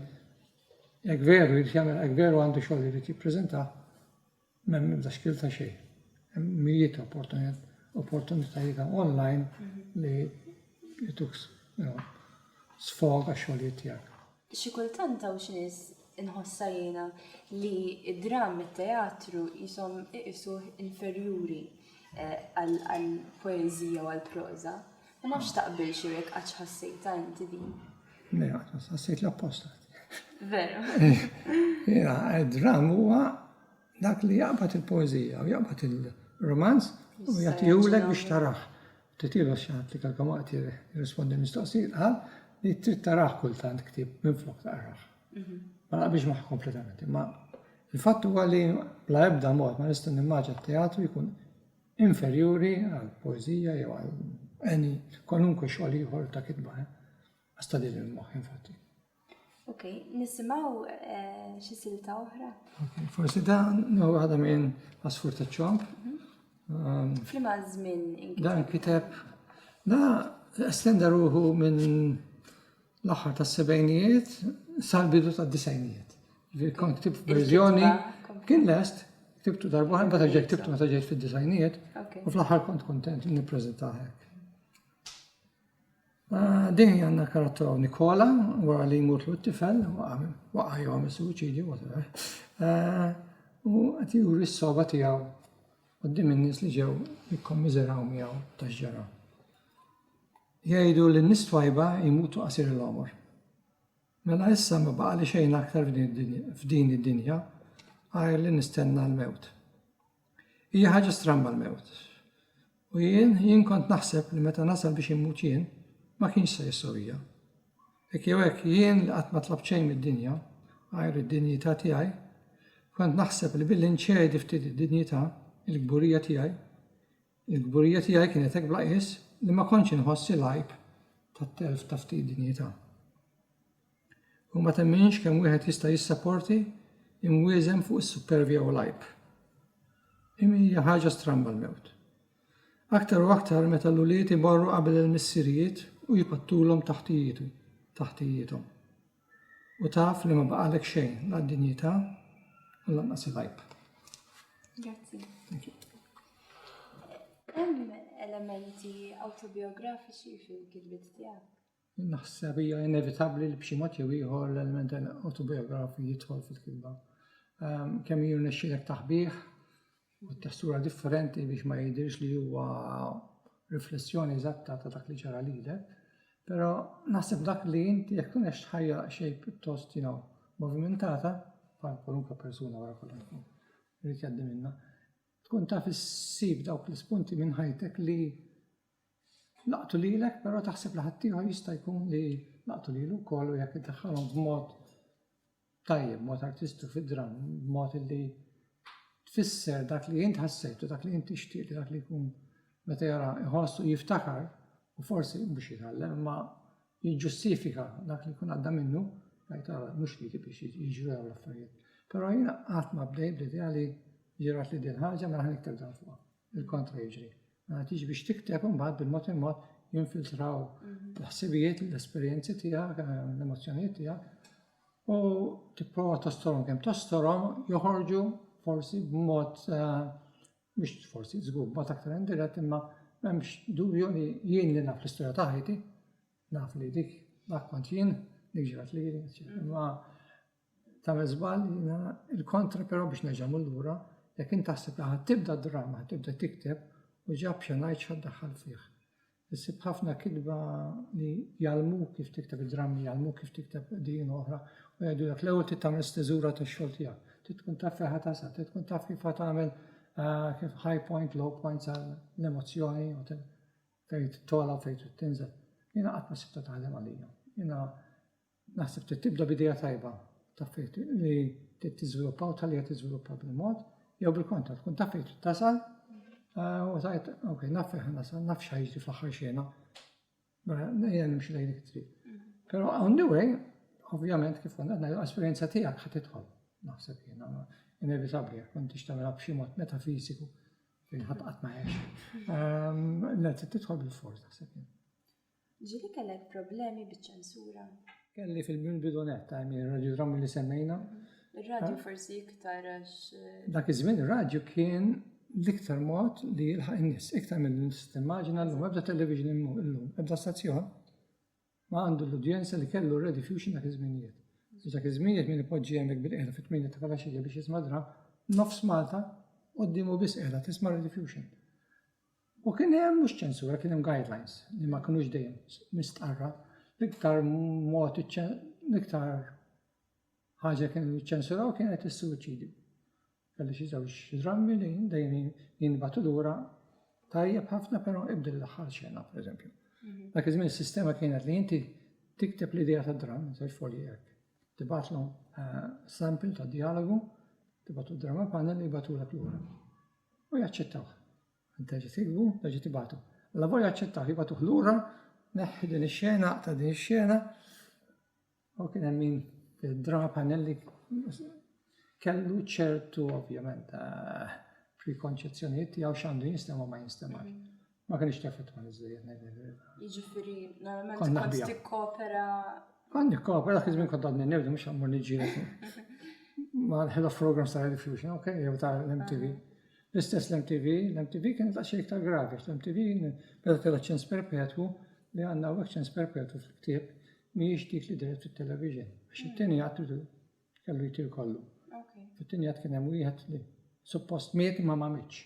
Jekk veru jrid jagħmilha, jekk veru għandu xogħol li jrid jippreżenta, m'hemm ebda xkiel ta' xejn. Hemm mijiet ta' opportunitajiet ta' online li jituk sfog għax-xogħlijiet tiegħek. Xi kultant hawn xi nies inħossha jiena li d-dramm, it-teatru qishom iqisuh inferjuri għall-poeżija u għall-proża. Ma nafx taqbilx jew jekk qatt ħassejtha inti din. Le, qatt ħassejt l-apposta. Veru. Jiena, dram huwa dak li jaqbad il-poeżija u jaqbad il-romanz u jagħtihulek biex taraħ. Titilu xaħat li kalkom waqt jirrispondi mistoqsi qal li trid taraħ kultant ktib minn flok taqraħ. Mhm. Ma naqbiex maħ kompletament, imma il-fatt huwa li bla ebda mod ma nista' nimmaġa teatru jkun inferjuri għal poeżija jew għal any kwalunkwe xogħol ieħor ta' kitba. Eh? Għasta din il-moħħ infatti. Ok, nisimaw eh, xi silta oħra. Forsi da no għada minn Asfur ta' ċomp. Mhm. Um, Flima żmien inkiteb. Dan kiteb da estenda ruħu minn l-aħħar tas-sebgħinijiet sal-bidu tad-disgħinijiet. Kont ktibt verżjoni kien lest, ktibtu darba ħan meta ġejt ktibtu meta ġejt fid-disgħinijiet u fl-aħħar kont kuntent li nippreżenta hekk. Ah, din hija għandna karattra Nikola wara li jmut l tifel waqa' jew għamel suwiċidju whatever. Ah, u qed juri s-soba tiegħu qudiem in-nies li ġew jikkommiżeraw miegħu tax-ġara. Jgħidu li n-nies twajba jmutu qasir il-għomor. Mela issa ma baqali xejn aktar f'din id-dinja għajr li nistenna l-mewt. Hija ħaġa stramba l-mewt. U jien, jien kont naħseb li meta nasal biex immut jien, ma kienx se jissowija. Hekk jew hekk jien li qatt ma tlabt xejn mid-dinja għajr id-dinjità tiegħi, kont naħseb li billi nċedi ftit id-dinjità, il-kburija tiegħi, Il-kburija tiegħi kienet hekk bla qies li ma kontx inħoss il-għajb tat-telf ta' ftit dinjità. U ma temminx kemm wieħed jista' jissaporti imwieżem fuq is-suppervja u l-għajb. Imi hija ħaġa stramba l-mewt. Aktar u aktar meta l-ulied imorru qabel il-missirijiet u jpattulhom taħtijietu, taħtijithom. u taf li ma baqalek xejn, la d-dinjità u lanqas il-għajb. Grazzi. Hemm elementi autobiografiċi fil-kilbiet tiegħek? Naħseb hija inevitabbli li b'xi mod jew ieħor l-element autobiografi jidħol fil-kilba. Ehm, kemm jirnexxilek taħbih, u t-testura differenti biex ma jidhirx li huwa riflessjoni eżatta ta' dak li ġara lilek, però naħseb dak li inti jekk tkun qed tħajja xejn pjuttost you know, movimintata, bħal kwalunkwe persuna wara kollox tkun irid jgħaddi minnha, tkun taf issib dawk l-ispunti minn ħajtek li laqtu lilek però taħseb li ħaddieħor jista' jkun li laqtu lilu wkoll u jekk iddaħħalhom b'mod tajjeb b'mod artistu fid-dramm, b'mod li tfisser dak li int ħassejt u dak li int tixtieq li dak li jkun meta jara jħoss u jiftakar u forsi mhux jitgħallem imma jiġġustifika dak li jkun għadda minnu jgħid ara mhux li biex jiġru dawn l-affarijiet. Però jiena qatt ma bdejt bl-idea li ġirat li din ħaġa mela ħa nikteb dan fuqha. il-kontra jiġri. Mela tiġi biex tikteb imbagħad bil-mod il-mod jinfiltraw mhm. l-ħsibijiet, l-esperjenzi tiegħek, eh, l-emozzjonijiet tiegħek u tipprova tostorom kemm tostorom joħorġu forsi b'mod eh, biex forsi żgur b'mod aktar indirett imma m'hemmx dubju li jien li naf l-istorja ta' ħajti, naf li dik dak kont jien, dik ġrat li jien, imma Tagħmel żball jiena l-kontra però biex nerġa' mmur lura, jekk int taħseb li ħa tibda d-drama, ħa tibda tikteb u ġab xi ngħid x'ħa ddaħħal fih. Issib ħafna kitba li jgħallmuk kif tikteb id-drammi, jgħallmuk kif tikteb din oħra u jgħidulek l-ewwel trid tagħmel steżura tax-xogħol tiegħek. Trid tkun taf fejn ħa tasal, trid tkun taf kif ħa tagħmel ah, kif high point, low point tal-emozzjoni u fejn tola u fejn tinżel. Jiena qatt ma sibta taħdem għalija. Jiena Naħseb trid tibda b'idea tajba, taf fejn li trid tiżviluppa u tħalliha tiżviluppa bil-mod, jew bil-kontra tkun taf fejn trid tasal eh, u tajt, ok, naf fejn nasal, naf x'ħajġri fl-aħħar xena. Mela, nejja nimxi lejn dik trid. Però on the way, ovvjament kif kont għadna l-esperjenza tiegħek ħad tidħol. Naħseb jiena inevitabbli jekk kont tixtamela b'xi mod metafiżiku fejn ħadd qatt ma għex. Ehm, L-għed tidħol bil-forza, naħseb jiena. Ġieli kellek problemi biċ-ċensura? Kelli fil-bidu nett, I mean ir-radiodrammi li semmejna. Ir-radju forsi iktar għax. Dak iż-żmien ir-radju kien l-iktar mod li jilħaq in-nies, iktar milli timmaġina llum ebda television illum, ebda stazzjon ma għandu l-udjenza li kellu r-Radio Fusion dak iż-żminijiet. Biex dak iż-żminijiet min ipoġġi hemmhekk bil-qiegħda fit-tmienja ta' filgħaxija biex jisma' dram, nofs Malta quddiemu biss qiegħda tisma' Radio Fusion. U kien hemm mhux ċensura, kien hemm guidelines li ma kinux dejjem mistqarra. L-iktar mod l-iktar ħaġa kienu ċensuraw kienet is-suwiċidju. Kelli xi żewġ drammi li dejjem jinbatu lura tajjeb ħafna però ibdel l-aħħar xena, pereżempju. Mhm. Dak iż-żmien is-sistema kienet li inti tikteb l-idea ta' dramm, żewġ folji hekk. Tibatlu eh, sample ta' dialogu, tibatu drama panel li jibatulek lura. u jaċċettawh. Terġa' tiktbu, terġa' tibatu. Alla volja jaċċettawh, jibatuh lura, neħħi din ix-xena, ta' din ix-xena. U kien hemm min drama panelli kellu ċertu ovvjament eh, prekonċezzjonijiet tiegħu x'għandu jinstema' ma jinstemax. Ma kienx tefetwa iżejjed ngħid il-verità. Jiġifieri normalment Kont kont naħbiha. tikkopera Kont nikkopra dak iż-żmien kont għadni newdu mhux ammur niġġieled ma' l-head of programs ta' Radio Fusion, ok, jew ta' l-MTV. L-istess l-MTV, l-MTV kienet ta' xejn iktar gravi, għax l-MTV beda tella ċens perpetwu li għandna hawnhekk ċens perpetwu fil-ktieb mhijiex dik li deret fit-television. Għax it-tieni għad tridu kellu jtir kollu. okay. Fit-tieni għad kien hemm wieħed li suppost miet imma ma mitx.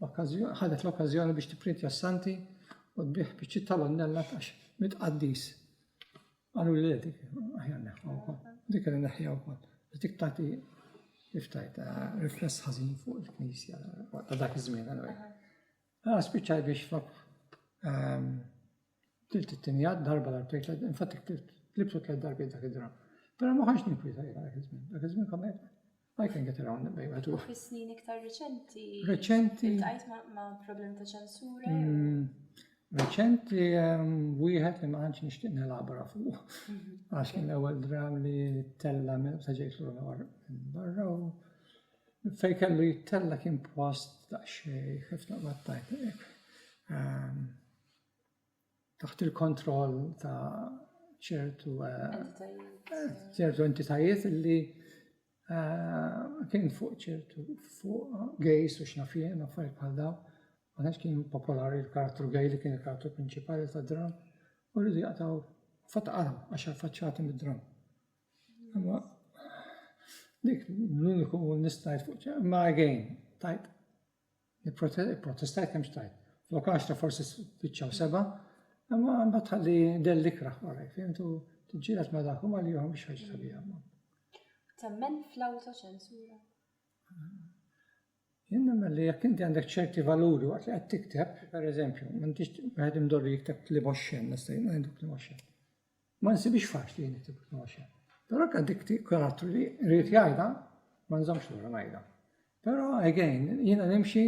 ħadet l-okkażjoni biex tipprintja s-Santi u tbigħ biċċiet tal-onnella għax mit-qaddis. Qalu li le dik, aħjar neħħa wkoll. Dik li neħħija wkoll. Dik tagħti iftajt eh, rifless ħażin fuq il-Knisja ta' dak iż-żmien għalwej. Ah, spiċċaj biex flok ehm, Tlift it-tieni għad darba darbtejn tliet infatti tlift tliftu tliet darbiet dak id-draw. Però ma kontx ninkwieta jien dak iż-żmien. Dak iż-żmien kont ngħid I can get around bejn wieħed u Fis-snin iktar riċenti. Riċenti. Iltqajt ma' problemi ta' ċensura jew. Mm, riċenti ehm, wieħed li ma għandx nixtieq nelabra fuq. Mhm. Għax kien l-ewwel draw li tella minn sa ġejt lura minn barra u fej kellu jittella kien post daqsxejn kif naqbad tajt. Ehm, taħt il-kontroll ta' ċertu ċertu entitajiet li kien fuq ċertu fuq gejs u xnafien u affarijiet bħal dawn. Ma kienx kien popolari l-karattru gej li kien il-karattru prinċipali ta' dram u rridu jaqtaw fatqara għax faċċati mid-dram. Imma dik l-uniku nista' fuq ma gejn tajb Protestajt kemm xtajt. Flok 10 forsi spiċċaw seba, imma mbagħad tħalli del ikra wara, fimtu tiġġieled ma' dak u ma' lihom biex ħaġa sabiħa. Temmen fl-autoċensura? Jien nemmen li jekk inti għandek ċerti valuri waqt li qed tikteb, pereżempju, m'intix wieħed imdorri jikteb li moxxen, nista' jien ngħidlek li moxxen. Ma nsibhiex faċli li nikteb il-kmosha. Però hekk dik karattru li rrid jgħidha ma nżommx lura ngħidha. Però again, jiena nimxi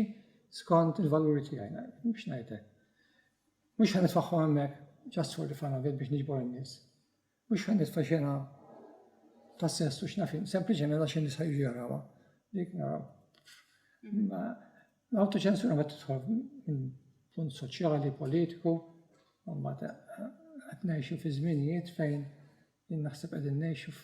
skont il-valuri tiegħi, biex ngħidlek. Mhux ħan nitfaħħu hemmhekk ġast for the fun of it biex niġbor in-nies. Mhux ħan nitfa' xena ta' sess u x'nafin, sempliċement għax in-nies ħajġu jarawha. Dik naraw. L-autoċensura ma tidħol minn punt soċjali, politiku, u ma qed ngħixu fi żminijiet fejn jien naħseb qegħdin ngħixu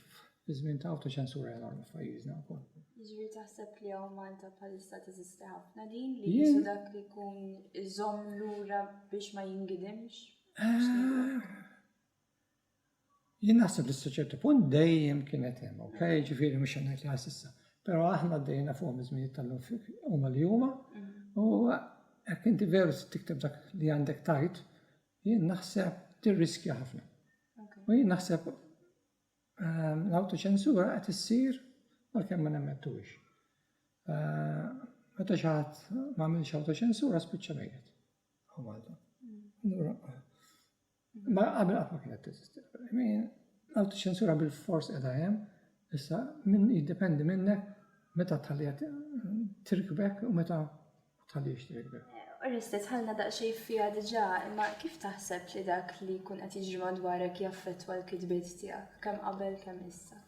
fi żmien ta' autoċensura enormi f'pajjiżna wkoll. Jiġri taħseb li hawn Malta bħalissa teżisti ħafna din li jisu dak li jkun iżomm lura biex ma jingidimx? Ah, Jien naħseb li s-soċertu punt dejjem kienet hemm, ok, ġifieri mhux ngħid li ħassissa. Però aħna dejna fuq miż-żminijiet tal-lum huma li huma u hekk inti veru tikteb dak li għandek tajt, jien naħseb tirriskja ħafna. U jien naħseb ehm, l-autoċensura qed issir għalkemm ma nemmettuwix. Eh, meta xi ħadd ma għamilx autoċensura spiċċa mejjet. Malta. Mm. Ma qabel qatt ma kienet teżisti l-Berlamin, l-awtoċensura bil-fors qiegħda hemm, issa min jiddependi minnek meta tħalliha tirkbek u meta tħallix tirkbek. Eh, Oreste, tħallna daqsxejn fiha diġà, imma kif taħseb li dak li jkun qed jiġri madwarek jaffettwa l-kitbiet tiegħek, kemm qabel kemm issa?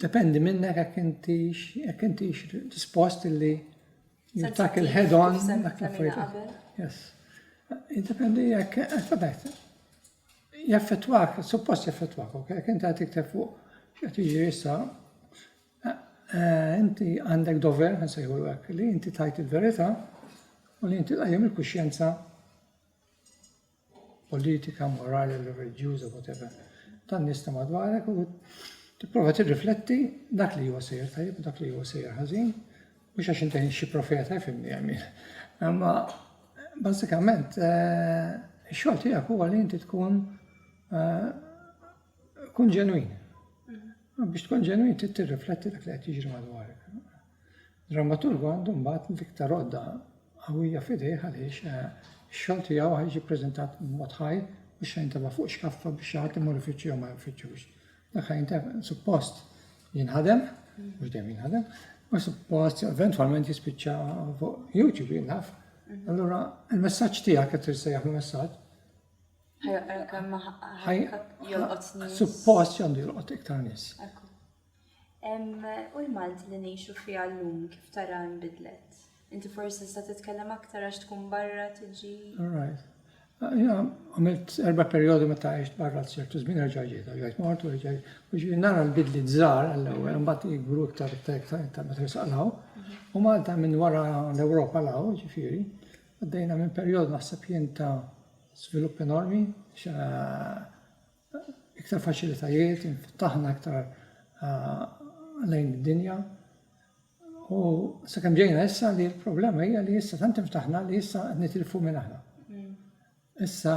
Dependi minnek jekk intix jekk intix dispost li You tackle head on. Yes. Jiddependi jekk, għatajt, eh, jaffetwak, suppost jaffetwak, ok, jekk inti għatikte fuq, xħat iġi jissa, eh, eh, inti għandek dover, għan sejħu l-għek, li inti tajt il-verita, u li inti għajem il-kuxjenza politika, morali, reliġjuża, whatever, tan-nies ta' madwarek u tipprova tirrifletti dak li huwa sejjer tajjeb u dak li huwa sejjer ħażin, mhux għax inti xi profeta jfimni għamil. Imma bażikament eh, ix-xogħol tiegħek huwa li inti tkun eh, kun ġenwin. Biex tkun ġenwin trid tirrifletti dak li qed jiġri madwarek. Drammaturgu għandu mbagħad l-iktar għodda qawwija f'idejh għaliex ix-xogħol tiegħu ħa jiġi ppreżentat b'mod ħaj u x-xena jintefa' fuq xkaffa biex xi ħadd imur ifittxu jew ma jfittxux. Dak ħa jintefa' suppost jinħadem, mhux dejjem jinħadem, u suppost eventwalment jispiċċa fuq YouTube jinħaf. Allura il-messaġġ tiegħek qed tirsejjaħ il-messaġġ. Ħajja kemm jolqot nies. Suppost għandu jolqot iktar nies. U l-Malti li ngħixu fiha llum kif tara nbidlet? Inti forsi tista' titkellem aktar għax tkun barra tiġi. Right. Jina għamilt erba periodi meta għajt barra ċertu żmien erġa' ġejt, ġejt mort u ġej. Nara l-bidli żgħar għall-ewwel, mbagħad jikbru iktar ta' meta jisqalaw. U Malta minn wara l-Ewropa law, ġifieri, għaddejna minn perjodu naħseb jien ta' żvilupp enormi, iktar faċilitajiet, inftaħna iktar lejn id-dinja. U sakemm ġejna issa li l-problema hija li issa tant inftaħna li issa nitilfu minn aħna. Mm. Issa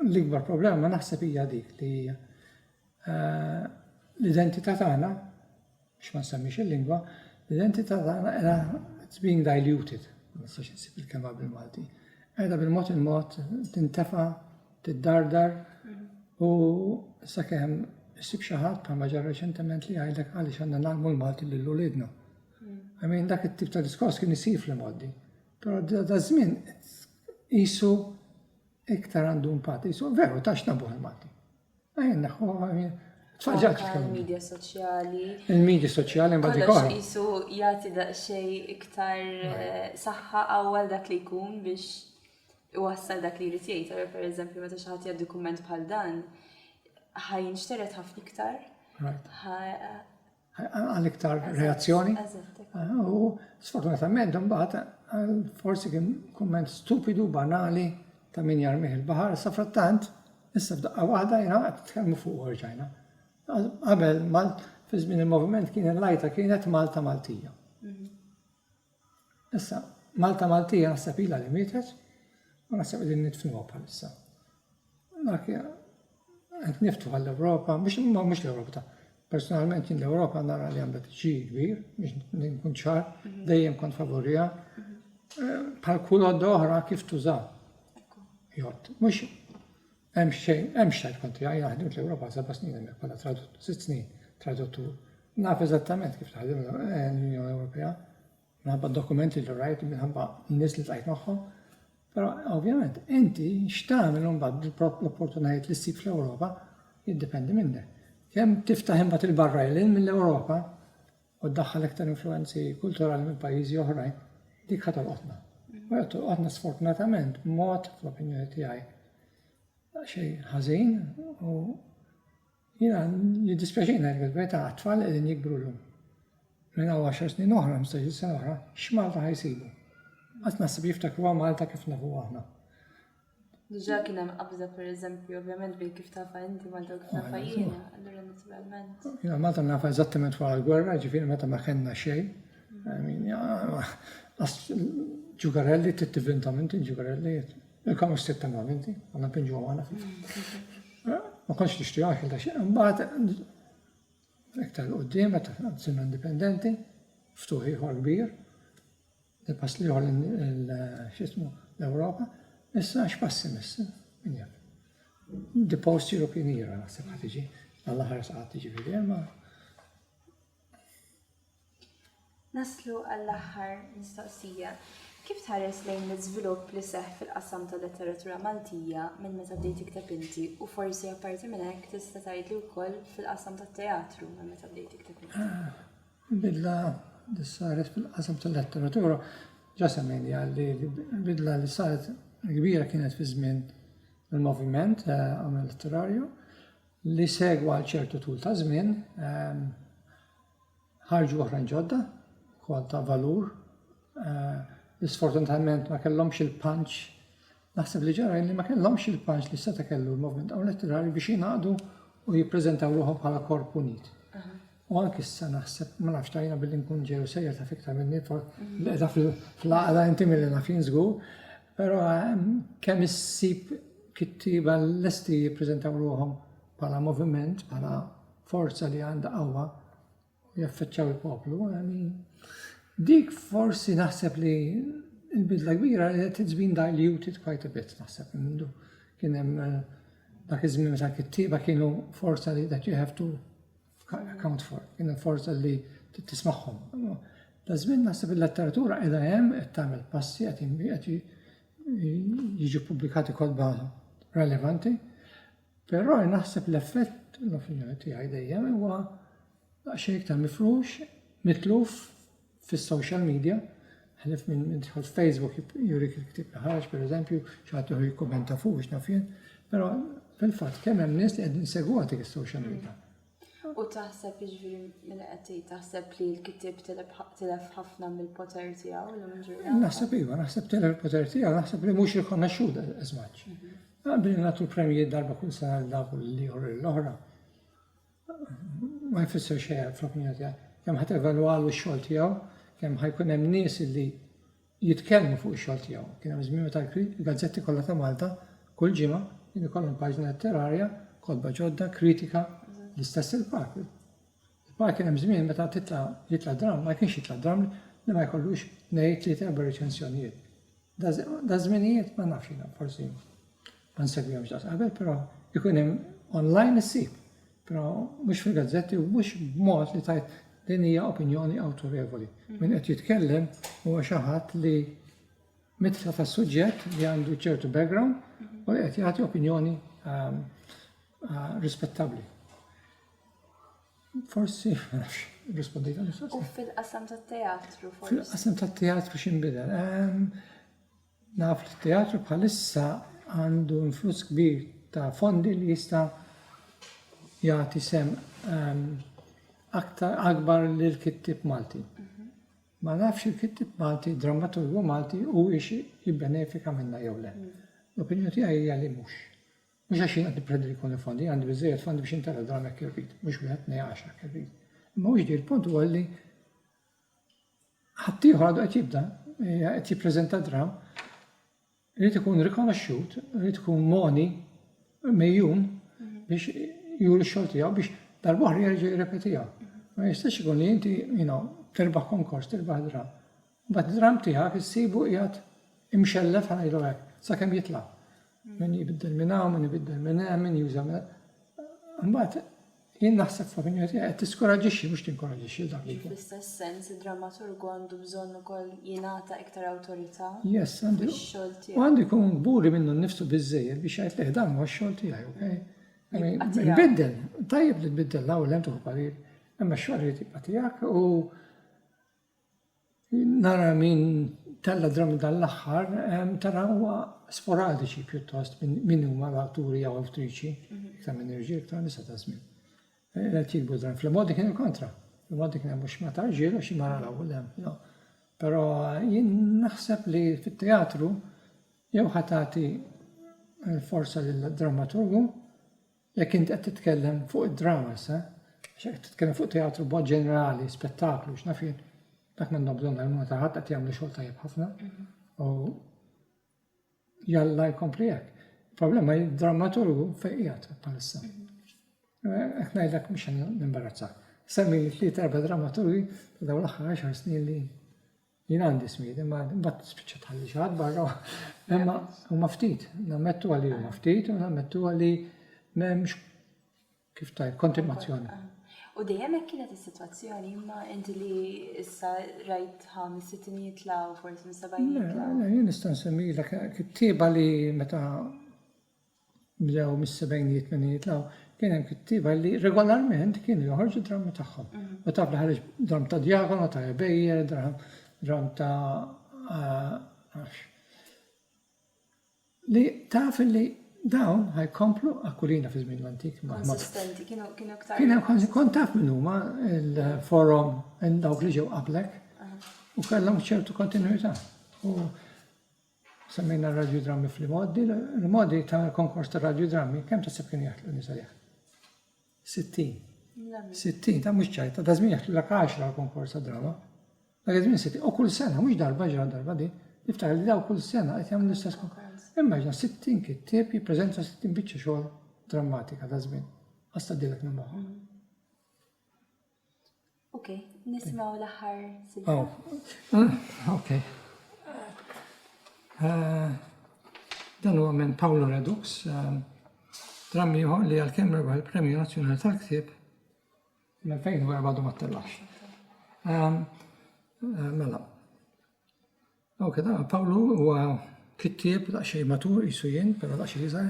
l-ikbar problema naħseb hija dik li eh, l-identità tagħna Biex ma nsemmix il-lingwa, l-identità tagħna qiegħda it's being diluted, ma nistax insib il-kelma bil-Malti, qiegħda bil-mod il-mod tintefa, tiddardar u sakemm issib xi ħadd bħalma ġar reċentement li jgħidlek għaliex għandna nagħlmu l-Malti lil uliedna. I mean, dak it-tip ta' diskors kien isir fl-imoddi. Però da żmien qisu iktar għandu impatt, qisu veru tax nabuħ il-Malti. Il-media soċjali. Il-media soċjali mbagħad ikun. Kollox isu jagħti daqsxejn iktar eh, saħħa awwal dak li jkun biex iwassal dak li jrid jgħid. Ara pereżempju meta xi ħadd jgħaddi kumment bħal dan, ħajn xteret ħafna iktar. għal iktar reazzjoni. U sfortunatament imbagħad forsi kien kumment stupidu, banali ta' min jarmih il-baħar, sa frattant issa f'daqqa waħda jiena qed tkellmu fuq orġajna. Qabel fi żmien il-moviment kien il-lajta kienet Malta Maltija. Mhm. Issa, Malta Maltija naħseb ilha li mietet u naħseb qegħdin nidfnuha bħalissa. Dak qed niftu għall-Ewropa, mhux mhux l-Ewropa ta' personalment jien l-Ewropa nara li għandha tiġi kbir biex nkun ċar, mhm. dejjem kont favorija. Mhm. Eh, bħal kull għodda oħra kif tuża. Jott, mhux Hemm xejn, hemm xejn kont tiegħi jiena ħdimt l-Ewropa għal seba' snin hemmhekk bħala traduttur, sitt snin traduttur. Naf eżattament kif taħdem eh, l-Unjoni Ewropea, minħabba dokumenti li rajt, minħabba n-nies li tqajt magħhom. Però ovvjament inti x'tagħmel imbagħad l-opportunitajiet li ssib fl-Ewropa jiddependi minnek. Kemm tiftaħ imbagħad il-barra il mill-Ewropa u ddaħħal iktar influwenzi kulturali minn pajjiżi oħrajn, dik ħa tolqotna. U qed tolqotna sfortunatament b'mod, fl-opinjoni tiegħi, xejn ħażin u jiena jiddispjaċina jekk il-verità għat-tfal qegħdin jikbru llum. Minn hawn 10 snin oħra, 15 sena oħra, x'Malta ħajsibu? Qatt naħseb jiftakruha Malta kif nafu aħna. Diġà kien hemm qabża pereżempju, ovvjament bil kif tafa inti Malta u kif nafa jiena, allura naturalment. Jiena Malta nafa eżattament wara l-gwerra, ġifieri meta ma kellna xejn. Ġugarelli trid tivvintom inti, ġugarelli. Il-kamu stib temmam inti, għandna pinġu għana. Ma kontx nixtri għax il xejn. Mbagħad iktar qudiem meta sirna indipendenti, ftuħ ieħor kbir, Il-pass l-ieħor x'ismu l-Ewropa, issa x'pass imiss? Min jaf. The post European era naħseb ħad tiġi, għall-aħħar saqgħat tiġi fil ma Naslu għall-aħħar mistoqsija. Kif tħares lejn l-iżvilupp li seħħ fil-qasam tal-letteratura Maltija minn meta bdejt tikteb inti u forsi apparti minn hekk tista' tgħidli wkoll fil-qasam tat-teatru minn meta bdejt tikteb inti? Ah, Il-bidla li saret fil-qasam tal-letteratura ġa semmejniha li l-bidla li saret kbira kienet fi żmien il-moviment għamel letterarju li segwa għal ċertu tul ta' żmien ħarġu oħrajn ġodda kol ta' valur li sfortunatament ma kellhomx il-punch naħseb li ġara li ma kellhomx il-punch li seta' kellu l-moviment għamel letterarju biex jingħaqdu u jippreżentaw ruħhom bħala korp unit. U anki issa naħseb, ma nafx tajna billi nkun ġew sejja ta' fiktar minni, l-edha fl-għaqda inti mill nafin żgur, però ehm, kemm issib kittiba l-lesti jippreżentaw ruħhom bħala moviment, bħala forza li għandha qawwa u jaffeċċaw il-poplu. Dik forsi naħseb li il-bidla kbira li it's been diluted quite a bit naħseb mindu. Kien hemm eh, dak iż-żmien meta kittiba kienu forza li that you have to account for, in forza li tismagħhom. Ta' żmien naħseb il-letteratura qiegħda hemm qed tagħmel passi qed jiġu pubblikati kolba relevanti, però naħseb l-effett l-opinjoni tiegħi dejjem huwa xejn iktar mifrux, mitluf fis-social media, ħlif minn min tħol f'Facebook jurik il-ktib li ħarġ, per eżempju, xaħat uħu jikkumenta fuq biex nafjen, pero fil-fat kemm hemm nies li qegħdin segwa dik is-social media. U taħseb iġviri minn qed taħseb li l-kitib tilef ħafna mill-poter tiegħu l ġurnata. Naħseb iva, naħseb tilef il-poter tiegħu, naħseb li mhux rikonoxxut as much. Mhm. Għabri nagħtu l-premjiet darba kull sena l-dak li jħorri l-oħra. ma jfisser xejn fl-opinjoni tiegħi. Kemm ħadd evalwalu x-xogħol tiegħu, kemm ħajkun hemm nies li jitkellmu fuq ix-xogħol tiegħu. Kien hemm żmien meta l-gazzetti kollha ta' Malta kull ġimgħa kien ikollhom paġna letterarja, kotba ġodda, kritika, l-istess il-park. Il-park kien hemm żmien meta titla' jitla' dramm, ma kienx jitla' dramm li ma jkollux ngħid li terba' reċensjonijiet. Daż-żminijiet ma nafx jiena forsi ma nsegwihomx daqs qabel, però ikun hemm online issib, però mhux fil-gazzetti u mhux b'mod li tajt din hija opinjoni awtorevoli. Min qed jitkellem huwa xi ħadd li mitla ta' suġġett li għandu ċertu background u li qed jagħti opinjoni ehm, eh, rispettabbli. Forsi, nafx, rispondejt għal U fil-qasam tat-teatru, forsi? Fil-qasam tat-teatru xinbidel. Ehm, naf li t-teatru bħalissa għandu influss kbir ta' fondi li jista' jagħti sem ehm, aktar akbar lil kittib Malti. Mhm. Ma nafx il-kittib Malti, drammaturgu Malti u ix jibbenefika minna jew le. Mhm. L-opinjoni tiegħi hija li mhux. Mhux għax jien qed nippredi li jkolli fondi, jien għandi biżżejjed fondi biex intelef dramm jekk irrid, mhux wieħed tnej għaxar jekk irrid. Imma hu jiġri l-punt huwa li ħaddieħor għadu qed jibda, eh, qed jippreżenta dramm, irid ikun rikonoxxut, irid ikun moni mejjun biex juri x-xogħol tiegħu biex dal-boħra jerġa' jirrepetiha. Ma jistax ikun li inti, you know, terbaħ konkors, terbaħ dramm. Bat dramm tiegħek issibu qiegħed imxellef ħanajlu hekk, sakemm jitla'. Min jbiddel minn hawn, min jbiddel minn hemm, min juża Mbagħad jien naħseb fl-opinjoni tiegħi qed tiskoraġġixxi mhux tinkoraġġixxi dak li. Fl-istess sens id-drammaturgu għandu bżonn ukoll jingħata iktar awtorità. Yes, għandu. Fix-xogħol tiegħu. U għandu jkun kburi minnu nnifsu biżejjed biex jgħid leh dan huwa x-xogħol tiegħi, okay? Nbiddel, tajjeb li tbiddel l-ewwel hemm tuħu parir, imma x-xogħol irid jibqa' tiegħek u Nara min tella' drabi dan l-aħħar tara huwa sporadiċi pjuttost min huma l-awturi jew awtriċi iktar minn irġiel iktar nisa ta' żmien. Qed jikbu dram fl-modi kien il-kontra. Fl-modi kien mhux ma ta' irġiel għax mara l-ewwel hemm. Però jien naħseb li fit-teatru jew ħa tagħti l-forza lid-drammaturgu Jekk int qed titkellem fuq id-dramas, eh? Għax jekk qed titkellem fuq teatru b'mod ġenerali, spettaklu, x'naf jien, dak m'għandhom bżonn għajnuna ta' ħadd qed jagħmlu xogħol tajjeb ħafna. Mhm. U jalla jkompli hekk. Problema drammaturgu fejn qiegħed bħalissa. Qed ngħidlek mhux nimbarazza. Semmi li tliet erba' drammaturgi ta' dawn l-aħħar 10 snin li Jien għandi smid, imma mbagħad spiċċa tħalli xi ħadd barra. Imma huma ftit, nammettu għalli huma ftit u nammettu għalli m'hemmx kif tajb kontimazzjoni. U dejjem hekk kienet is-sitwazzjoni imma inti li issa rajt ħames sittin jitlaw forsi mis-sebgħin jitlaw. Jien nista' nsemmilek kittieba li meta bdew mis-sebgħinijiet tmeninijiet law, kien hemm kittieba li regolarment kienu joħorġu drammi tagħhom. Mhm. U taf li ħareġ dramm ta' djagono, ta' ebejjer, dramm ta' eh, li taf li dawn ħajkomplu akkulina fi żmien l-antik. Konsistenti, kienu kienu ktar. Kien hemm kont taf minn huma il-forum dawk li ġew qablek u kellhom ċertu kontinuità. Semmejna r-radjudrammi fl-imgħoddi, l-imgħoddi ta' konkors ta' radjudrammi, kemm tasib kienu jaħtlu nisa li jaħtlu? 60. 60, ta' mhux ċajt, ta' żmien jaħtlu l-ak 10 għal-konkors ta' drama. Dak żmien 60, u kull sena, mhux darba ġra darba di, niftakar li daw kull sena qed jagħmlu l-istess konkors. Immaġna 60 kittieb jippreżenta 60 biċċa xogħol drammatika ta' żmien. Għasta dilek minn moħħok. Okay, nismaw l-aħħar silta. Oh. Okay. Eh, dan huwa minn Paolo Redux, eh, dram ieħor li għal-kemm rebaħ il-Premju Nazzjonali tal-Ktieb l-2004 ma tellax. Eh, mela, Dawk id Pawlu huwa kittieb daqsxejn matur qisu jien, però daqsxejn iżgħar,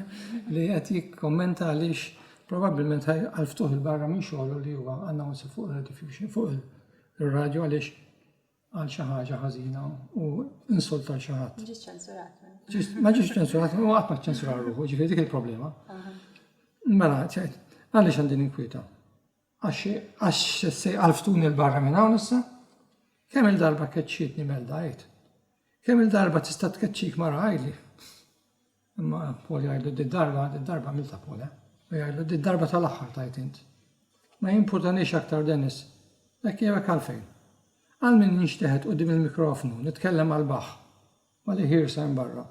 li qed jikkommenta għaliex probabbilment għal ftuħ il-barra minn xogħlu li huwa announcer fuq il-diffusion fuq il-radju għaliex għal xi ħaġa ħażina u insulta xi ħadd. Ġiġ ċensurat. Ma ġiġ ċensurat, u qatt ma ċensurar ruħu, ġifieri dik il-problema. Mela, għaliex għandi ninkwita? Għax, għax se jqalftuni l-barra minn hawn issa? Kemm il-darba keċċietni Melda għid? Kemm il-darba tista' tkeċċik mara għidli? Imma Paul jgħidlu di darba, di darba milta Paul, eh? U jgħidlu di darba tal-aħħar tajt int. Ma jimpurtanix aktar Dennis. Hekk jewek għalfejn. Għal min ninxteħet qudiem il-mikrofonu, nitkellem għal baħ. Ma' li ħiersa hemm barra.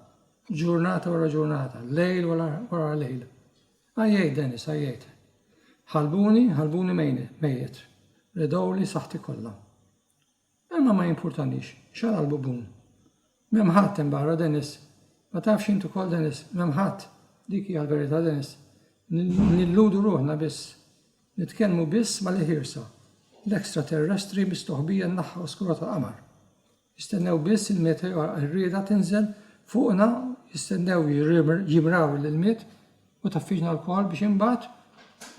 Ġurnata wara ġurnata, lejl wara lejl. Għajjejt, Dennis, għajjejt. Ħalbuni, ħalbuni mejjet. Redgħuli saħħti kollha. Imma ma jimpurtanix, x'għala l-bubun. M'hemm ħadd hemm barra, Dennis. Ma tafx int ukoll, Dennis, m'hemm ħadd. Dik hija l-verità, Dennis. Nilludu ruħna biss. Nitkellmu biss ma' li ħiersa. L-extraterrestri mistoħbija n-naħa oskura tal-qamar. Jistennew biss il-meteor għar-rieda tinżel fuqna, jistennew jimraw l-ilmiet u taffiġna lkoll biex imbagħad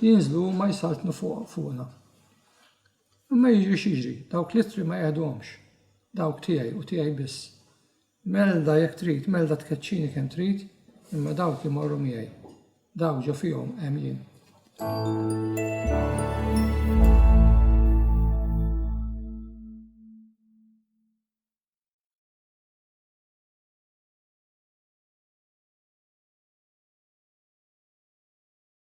jinżlu huma jsaltnu fuqna. Imma jiġri x'jiġri, dawk l-ittri ma jeħduhomx, dawk tiegħi u tiegħi biss. Melda jekk trid, melda tkeċċini kemm trid, imma dawk imorru miegħi. Daw ġo fihom hemm jien.